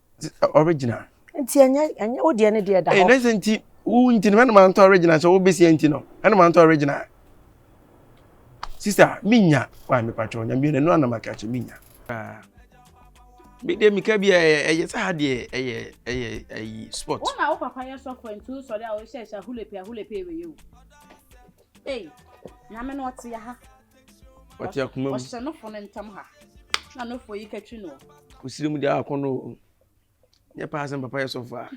original. nti ɛnyɛ ɛnyɛ wo deɛ ne deɛ da hɔ. ɛyɛ nɛsɛ nti wo nti no ɛna maa ntɔ original sɛ wo bɛsi nti no ɛna maa ntɔ original sista mi nya wa mi patɔ nya mi yɛ nanu anam akɛkyɛ mi nya. mi deɛ mi ka bi ɛyɛ ɛyɛ sɛ ha deɛ ɛyɛ ɛyɛ ɛyi sport. wọn na wo papa yɛ sɔfo nti wo sɔre a wɔhyɛ hyɛ ahulepe ahulepe wɔ yɛ o. ee nyame na ɔte ya ha. Wate akoma mu. Ɔhyɛ no fo no ntam ha. Na no fo yi katwi no. Kusiri mu de akɔ no. Nyɛ paa sɛ papa yɛ sɔfo a.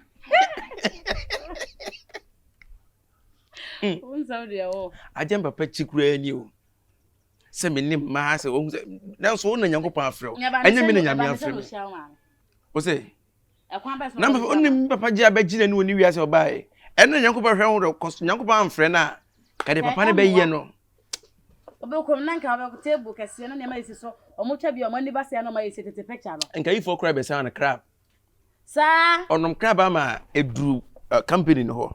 Wonsam deɛ wɔ. Agye papa kyi kura ni o. Sɛ me ne mmaa sɛ wɔn sɛ nanso wɔn na Nyankopɔn afrɛ o. Ɛnyɛ me na Nyame afrɛ me. Wosɛ. Ɛkwan bɛn so na wɔbɛyɛ saa? Ná me papa Gyaa bɛgyina no wɔ ne wiase a ɔbaeɛ. Ɛno na Nyankopɔn hwɛ ho dɛ, kɔs Nyankopɔn amfrɛ no a, ka deɛ papa no bɛyɛ no. Wobɛkɔm na nka wobɛkɔ table kɛseɛ no nneɛma ɛsi so, wɔn twa bi a wɔn ani ba sɛɛ na wɔn ayɛ si tete picture no. Nka yifoɔ koraa bɛsan no crab. Saa. Ɔnom crab ama ɛduru company no hɔ.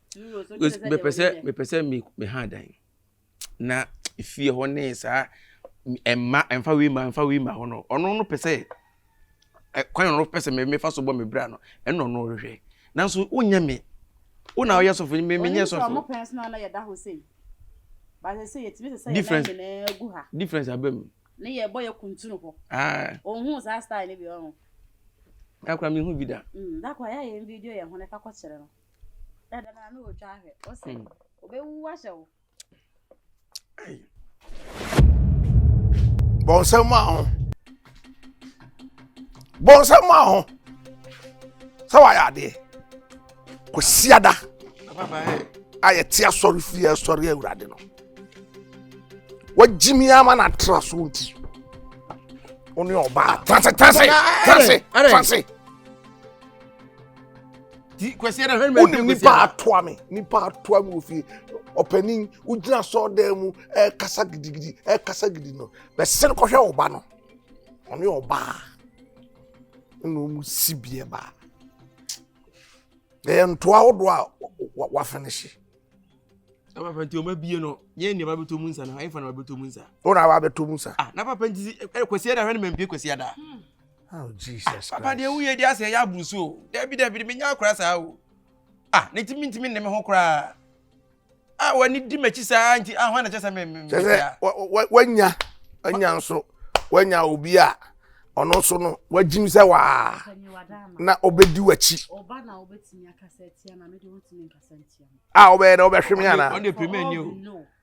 mepɛ sɛ mepɛ sɛ me me ha dan na efie hɔ ne saa mma mfa wei ma mfa wei ma hɔ no ɔno no pɛ sɛ kwan ɔno pɛ sɛ mefa so bɔ me bra no ɛna ɔno ɔhwehwɛ nanso wonyɛ me wo na ɔyɛ sɔfo me menyɛ sɔfo difference difference abam ne yɛ bɔ yɛ kuntunu hɔ ah. ohun saa style ne bi ɔho akora mehu bi da mm, da kora yɛayɛ video yɛ ho na ɛfa kɔkyerɛ no bɔnsɛm maa ho bɔnsɛm maa ho sɛ wayɛ adeɛ kwasiada a yɛte asɔre fie asɔre awurade no wagyimi ama no atra so nti wo ne ɔbaa transe transe transe transe ti kwasi ɛna hɛn mɛ wonim nipa atoa mi nipa atoa mi wɔ fie ɔpanin wogyina sɔɔ dan mu ɛkasa gidigidi ɛkasa gidi no bɛsɛn kɔhwɛ ɔba no ɔne ɔbaa ɛna wɔn si bie baa ɛyɛ ntoa ahodoɔ a wafinihye. na papa nti wɔn abie no yɛn nneɛma bɛtɔ mu nsa na ayɛfa na wɔabɛtɔ mu nsa. wɔn a wɔabɛtɔ mu nsa. ah na papa nti kwasi ɛna hɛn mɛ mpie kwasi ada. Hmm. Oh, Jesus Papa Christ. deɛ woyɛ di asɛ ɛyɛ aburu so o. Dabi dabi de menya akora saa o. Ah, ne ti mintimi nne me ho koraa. Ah, w'ani di m'akyi saa nti ah hwan na kyɛ sɛ me me me kyɛ sɛ wa- wa- wanya wanya nso wanya obi a ɔno nso no wagyim sɛ waa na ɔbɛdi w'akyi ɔba na wobɛtumi akasa atia ma mede wontumi nkasa ntia mu a wobɛyɛ dɛ wobɛhwe me anaa Ɔno deɛ pɛ mɛ ni o. no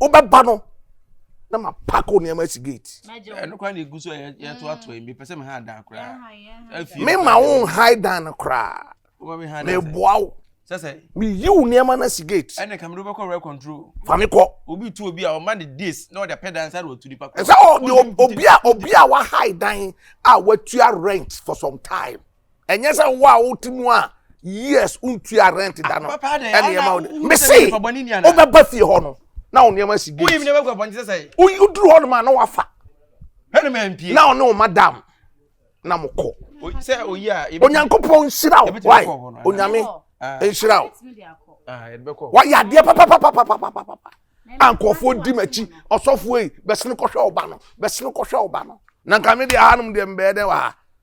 wobɛba no na ma pack wo nneɛma asi gate. ɛno kora na egu so yɛ yɛ to ato yi mepɛ sɛ mi ha dan koraa. efie me ma wo ha dan no koraa. wọ́n mi ha dan sɛ meboa wo. sɛsɛ. mi yi wo nneɛma na si gate. ɛna kàmi ló bɛ kɔ rɛ control. fami kɔ. obi tu obi a ɔma ne days na ɔde apɛ dan sáré otu nipa kɔ. ɛsɛ ɔdi obi a obi a wa ha dan a watua rent for some time. ɛnyɛ sɛ wo a wote mu a years wontua rent da no ɛnneɛma wo de mese wobɛba fie hɔ no na wo nneɛma si gate woduru hɔ nom a na wafa na ɔne wo madam na mokɔ onyankopɔn nhyira wo wae onyame nhyira wo wayɛ adeɛ papapapapapapa a nkurɔfoɔ di m'akyi ɔsɔfoɔ yi bɛsene kɔhwɛ wo ba no bɛsene kɔhwɛ wo ba no na nka me deɛ ahanom deɛ mbɛɛ dɛn wɔ ha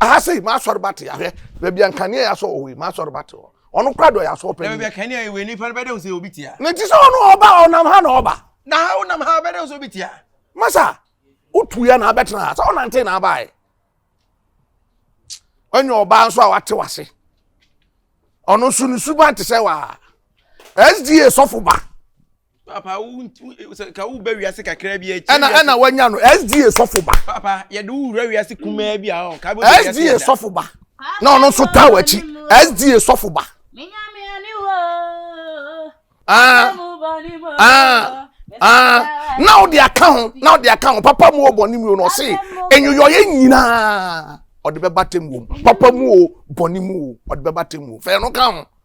aha sei masɔre bate ahwɛ baabi a nkanea yɛ asɔ wɔ hɔ yi masɔre bate hɔ ɔno kora dɔ yɛ asɔ pɛ baabi a kanea yɛ wɔ nipa no bɛdɛ sɛ obi tia ne ti sɛ ɔno ɔba ɔnam ha na ɔba na ha ɔnam ha bɛdɛ sɛ obi tia masa wotu ya na abɛtena ha sɛ ɔnante na abaeɛ ɔnyɛ ɔbaa nso a wate wase ɔno nso ne suban te sɛ waa sda sɔfo ba papa wo sɛ ka wo ba wiase kakra bi akyi ɛna ɛna wanya no sda sɔfo ba papa yɛde wo wura wiase kumaa bi a ɔ ka bɛ wiase sda sɔfo ba na ɔno nso taa w'akyi sda sɔfo ba ah ah ah na ɔde aka ho na ɔde aka ho papa mu ɔbɔ ne mu o na ɔse enyiyɔyɛ nyinaa ɔde bɛba tɛm wom papa mu o bɔ ne mu o ɔde bɛba tɛm wom fɛn no ka ho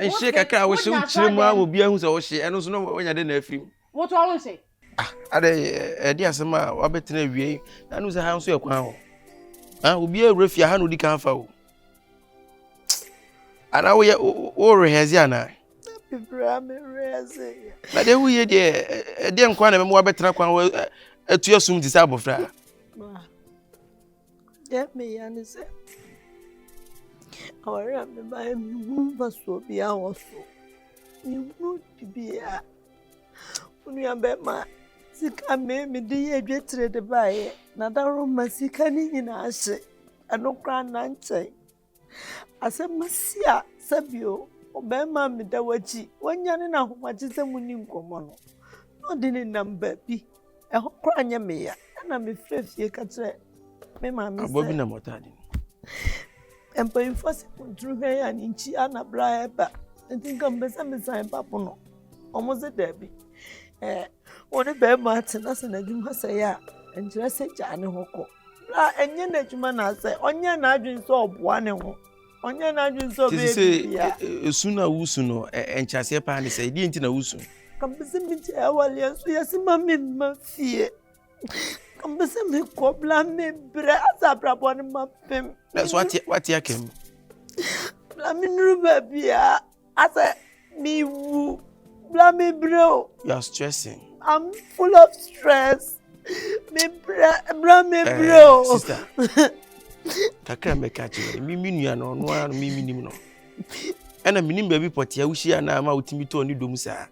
Nhye kakra a wohye wo kyerɛ mu a ma obiara hu sɛ wohye ɛno nso na wanya dɛ na afiri mu. Woto ɔho nhye. Ah, adɛ ɛde asɛm a wabɛtena awie na anu sɛ ha nso yɛ kwan o. Ha obiara wura fie ha na odi kan fa o. Ana woyɛ wo rehɛze ana? Bibira me rehɛze. Na deɛ woyɛ deɛ ɛdeɛ nkwa na ɛbɛma wabɛtena kwan atu asum te sɛ abɔfra. Deɛ meyɛ ne sɛ aware a mebaeɛ menhunu mfasoɔ biara wɔ so menhunu bibiara wo nuabɛrima sika me mede yɛ adwatire de baeɛ na daworo ma sika no nyinaa hye ɛno koraa nna nkyɛe Asɛm asi a sɛbio ɔbarima a meda w'akyi wanya ne n'ahomagye sɛ mu ni nkɔmmɔ no na ɔde ne nam baabi ɛhɔ koraa nyɛ meya ɛna mefrɛ fie ka kyerɛ me maame sɛ abɔ bi nam ɔtaade no mpanyinfoɔ sɛ kɔnturu hwɛ yɛ a ne nkyi anabra ɛba nti nka mpɛ sɛ mesan ba pono ɔmo se daabi ɛɛ wɔne bɛrima atena sɛ n'adwuma sɛ yɛ a nkyerɛ sɛ gyaa ne ho kɔ Na ɛnyɛ n'adwuma na sɛ ɔnyɛ n'adwene sɛ ɔboa ne ho ɔnyɛ n'adwene sɛ ɔbɛyɛ biribiara. E, e, esu na wusu no nkyɛaseɛ paa ne sɛ ɛdeɛ nti na wusu. kàmpɛsɛ mi gye awale nso yɛsi ma mi mma fie kàmpɛsɛ mi kɔ bla mi brɛ asa abrabɔ ne ma pɛm. na so wate wate akɛm. bla mi nuru baabi a Asɛ mi wu bla mi brɛ o. You are stressing. I'm full of stress. Mi brɛ bla mi eh, brɛ o. Sister, kakra mi ka kyerɛ mi mi nua no ɔno ara mi mi nim no. Ɛna mi nim baabi pɔtɛɛ wuhyia na ama wotumi tɔɔ ne dom saa.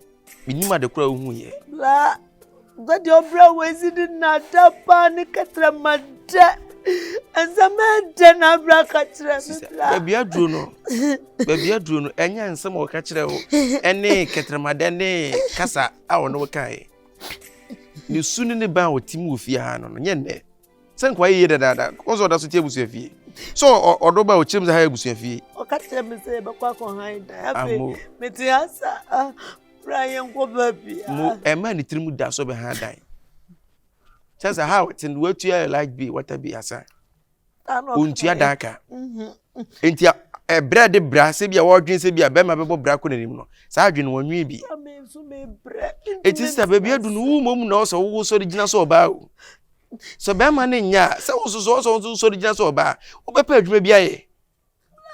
Menim ade koro a wohuiɛ. La, guadi ɔbrɛ a wɔasi ne nnaada paa ne kɛtrɛma dɛ. Nsɛm ɛdɛ na abrɛ aka kyerɛ me la. Baabi aduro no, baabi aduro no, ɛnyɛ nsɛm a wɔka kyerɛ wo ɛne kɛtrɛma dɛ ne kasa a wɔne wo kaeɛ. Ne su ne ne ban a wɔtim wɔ fie ha no, nyɛ nnɛ. sɛ nkoa yɛ yie dadaada ɔn sɛ ɔda so te abusua fie sɛ ɔdɔ ba ɔkyerɛ mu sɛ ha yɛ abusua fie ɔka kyerɛ me sɛ yɛbɛkɔ akɔhan dan afei mete ha sa bra yɛnkɔ baabi a mo ɛma ne tirim da so bɛha dan kyɛ sɛ ha ɔte no watua light bi wata bi asa ɔntua dan ka mhm. nti ɛbrɛ de bra sɛ bi a wɔdwene sɛ bi a bɛrima bɛbɔ bra kɔ n'anim no saa adwene wɔnwe bi ɛti sɛ baabi adu no wo mmom na ɔsɛ wowosɔre gyina sɛ ɔbaa o Sɛ ɔbarima no nya a, sɛ wosusu sɛ ɔnso nsɔre gyina sɛ ɔbaa, wobɛpɛ adwuma bi ayɛ.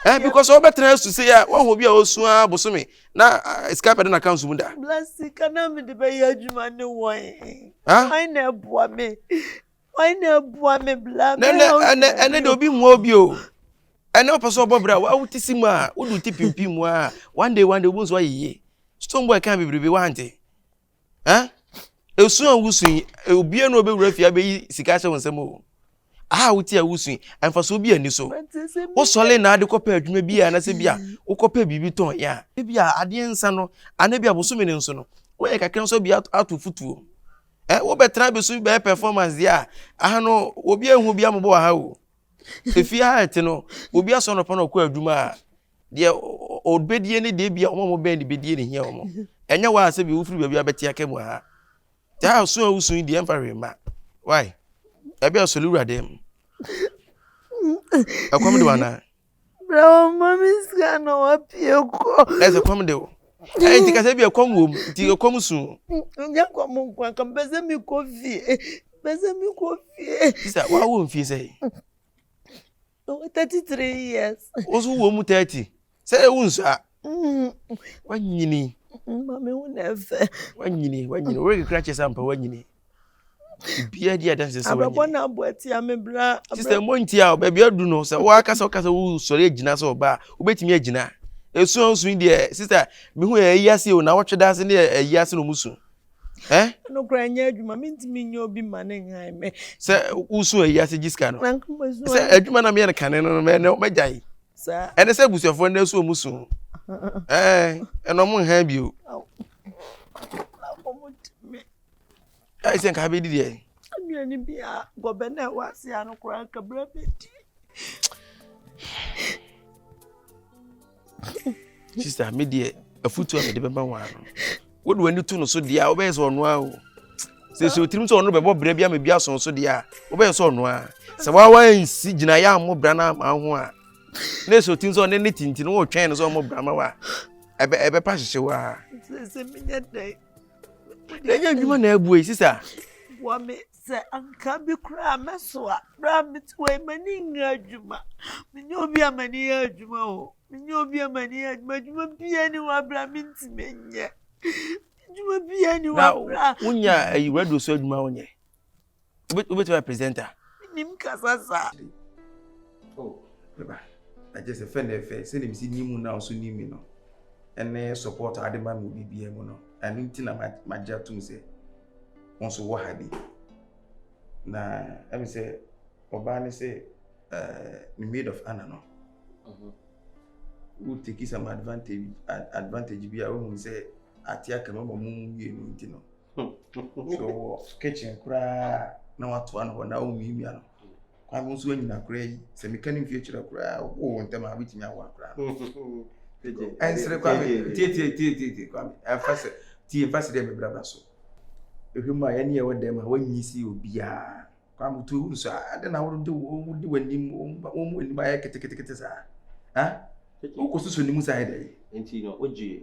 Eh, because wobɛtena asu sɛ a woahu bi a ɔsu a bosome na eh, sika bɛda n'aka nso mu da. Blasi ka na mede bɛyɛ adwuma ne wɔn. Wɔn na ɛboa me. Wɔn na ɛboa me bla. Ɛnɛ de obi mmoa obi o. Ɛnɛ wopɛ sɛ ɔbɔ bra a wote si mu a wode wo ti pimpim mu a one day one day wobu nso ayɛ yie. Stone boy kan bebrebe wante. Ɛn, esu a wusu yi, eh, obiara na obewura fie abeyi sika ahyɛ wo nsam o. A wote a wusu yi, mfaso bi ani so. Wosɔre na ade kɔpɛ adwuma bi a anasɛ bi a wokɔpɛ biribi tɔn yɛ a, ebi a adeɛ nsa no, anaa bi a bosome no nso no, woyɛ kakra nso bi ato futuo. Eh, wobɛtena abesu bɛyɛ performance deɛ a, aha no, obi ehu bi amobɔ wɔ ha o. Efie ha ɛte no, obi asɔ nɔpa na ɔkɔ adwuma a, deɛ ɔbɛdie ne deɛ bia wɔn a wɔbɛn ne bɛdie ne hia wɔn ɛnyɛ wɔn a sɛ bi wofiri baabi abɛte aka mu ha taa so a wosu yi deɛ mfa hwee ma wae ɛbi asɔre wura dɛm ɛkɔm de wana brɛ wɔn ma me sika na wɔapie kɔ na ɛsɛ kɔm de wo ɛyɛ nti kasɛ bi ɛkɔm wɔ mu nti ɛkɔm su nyɛ kɔm nkwa ka mpɛ sɛ mekɔ fie mpɛ sɛ mekɔ fie sisa wawo mfie sɛ Ɔwɔ thirty three years. Wosu wɔ mu thirty. Sɛ ewu nsa. Wanyini. Maame wo na ɛfɛ. Wanyini wanyini wɔyɛ kekura kyɛ sɛ ampa wanyini. Bia di adanse sɛ wanyini. Abɛbɔ na abɔ atia me bra. Sista mo ntia o baabi adu no sɛ wɔaka sɛ wɔka sɛ wosɔre agyina sɛ ɔbaa wobɛtumi agyina. Esu a osu yi deɛ sista mehu ɛyi ase o na wɔtwe da ase ne ɛyi ase na ɔmo su. Eh? No kura nyɛ adwuma mentumi nyɛ obi ma ne nhan me. Sɛ wosu ayi ase gye sika no. Sɛ adwuma na meyɛ no kane no no mɛgyae. Ɛne sɛ abusuafoɔ no so ɔmu su. Eh, ɛna ɔmo nhan bio. Ɛyɛ sɛ nka bɛdi deɛ. Anua ni bi a gɔbɛ na ɛwɔ ase a no koraa nka bere bɛdi. Sista me deɛ afutuo a mede bɛma wɔn ano. Wode w'ani to no so deɛ a wobɛyɛ sɛ ɔno ara o. Sɛ sɛ otirim sɛ ɔno bɛbɔ berɛ bi ama bi aso so deɛ a wobɛyɛ sɛ ɔno ara. Sɛ wawa nsi gyinaeɛ a mmɔ bra no ama ho a na sɛ otirim sɛ ɔne ne tinti no wotwɛn no sɛ ɔmmɔ bra ma wo a ɛbɛpa hyehye wo a. Sɛ sɛ menyɛ dɛn na ɛnyɛ adwuma na abue sisa boa me sɛ anka bi koraa mɛso a berɛ a mete wɔ yi m'ani nyɛ adwuma menyɛ obi a m'ani yɛ adwuma o menyɛ obi a m'ani yɛ adwuma adwuma biara ni hɔ aberɛ a mentumi nyɛ adwuma biara ni hɔ aberɛ a wonya ayi radio so adwuma wonyɛ Wobɛtumi ayɛ presenter? Menim kasa saa. Oh, me ba, agye sɛ fɛ na ɛfɛ sɛdeɛ mesi nim mu na nso nim me no ɛne support a ade ma me biribiara mu no ɛno nti na magye atom sɛ wo nso wɔ ha bi na ɛme sɛ ɔbaa ne sɛ ne maid of honor no mhm. wo take some advantage advantage bi a wohunu sɛ ate aka ma ma mu mmienu nti no so wɔ kitchen koraa na watoa no hɔ na womiamia no kwan nso anyina koraa yi sɛ meka ne mfie kyerɛ koraa wowɔ ntɛm a wobɛtumi awoa koraa ɛnsere kwame tietietietieti kwame ɛmfa sɛ tie mfa sɛ dɛ mebrabra so ɛhwɛ mu a yɛne yɛwɔ dɛm a woanyi si obiaa kwame to wuru so a adɛn na wode wode w'anim wɔn mu anim ayɛ ketekete saa wokɔ soso ne mu saa yɛ dɛ nti no wogye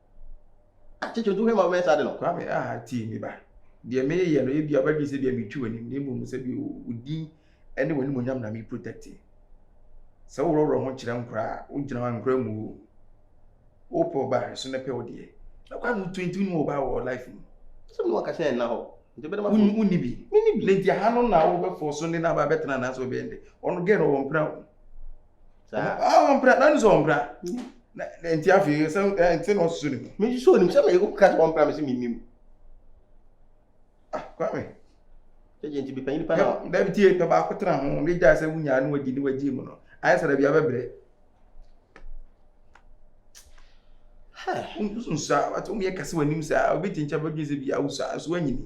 Akyɛ kyɛ otu hwɛ ma wo mɛnsa ade no. Kwame, Ah, tie me ba. Deɛ mereyɛ no, ebia wobɛdwene sɛ ebia meretwi w'anim, na mmom sɛdeɛ wo din ne w'animuonyam na mereprotɛkte. Sɛ woworɔworɔ ho kyerɛ nkora a, wogyina hɔ a, nkora mmu wo. Wopɛ ɔba a, ɛso na ɛpɛ wo deɛ. Na Kwame, wotu nti wonni ɔba wɔ life mu. Asɛm no wankasa ɛnna hɔ, nti wobɛde m'afotu. Wo, wonni bi. Menni bi. Na nti aha no na wobɛfɔɔso ne no aba abɛtena anaasɛ wobɛyɛ dɛn? Ɔno girl no, ɔmpira wo. saa ah wɔn mpira na ne sɛ wɔn mpira na nti afei sɛ ɛ nti na ɔsoso ne mu. mi soso ne mu sɛ mi yɛ ka sɛ wɔn mpira mi sɛ mi nim ah kwame. ɛyɛ nti bi panyin pa na. dabi tie pɛ baako tena ho ne gya sɛ wunya ne wadi ne wagye mu no ayɛ sɛ dabi abɛbrɛ. nsa wɔn yɛ kɛse wɔn anim saa obi ti nkyɛn bɛ dwi sɛ bi awusa nso wɔn anyini.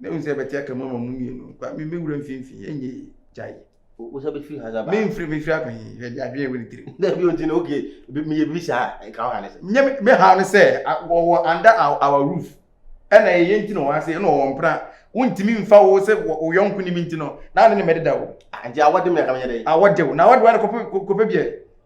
Na ehu sɛ ɛbɛte aka mu ama mo mmienu. Kwa, me me wura mfimfini, ɛnyɛ yie. Gyae. Wo sɛ bɛfiri ha sɛ baa. Memfiri, mefiri akɔ he? Hwɛ deɛ adwene ɛwɔ ne tirim. Na bi ɔnti no, okay, meyɛ biribi saa a, nka wo ha ne sɛ. Nyɛ me, me ha ne sɛ, wɔwɔ under our, our roof. Ɛna ɛyɛ nti na ɔwɔ ha sɛ, ɛna ɔwɔ mpena. Wontumi mfa wo sɛ wo yɔnko nim nti no, na ne ne mɛdeda o. Ah, nti awɔde me anka menyɛ dɛn? Awɔde wo, na awɔde wo a na kɔpɛ, kɔpɛ biɛ.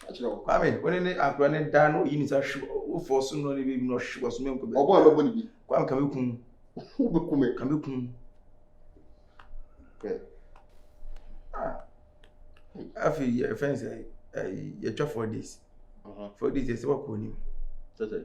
Ka kyerɛ wo. Kwame, wo ne ne akora no da na oyi ne nsa hwe wo fɔ so no ne baby no hwe wɔ so menkɔ baabi. Ɔbɔ a mɛbɔ ne bi. Kwame ka me kum. Wo bɛ kume. Ka me kum. Bɛ. Ah. Afi yɛ fɛn sɛ yɛtwa four days. Uh-huh. Four days yɛ sɛ wakɔ onim. Sɛ sɛ.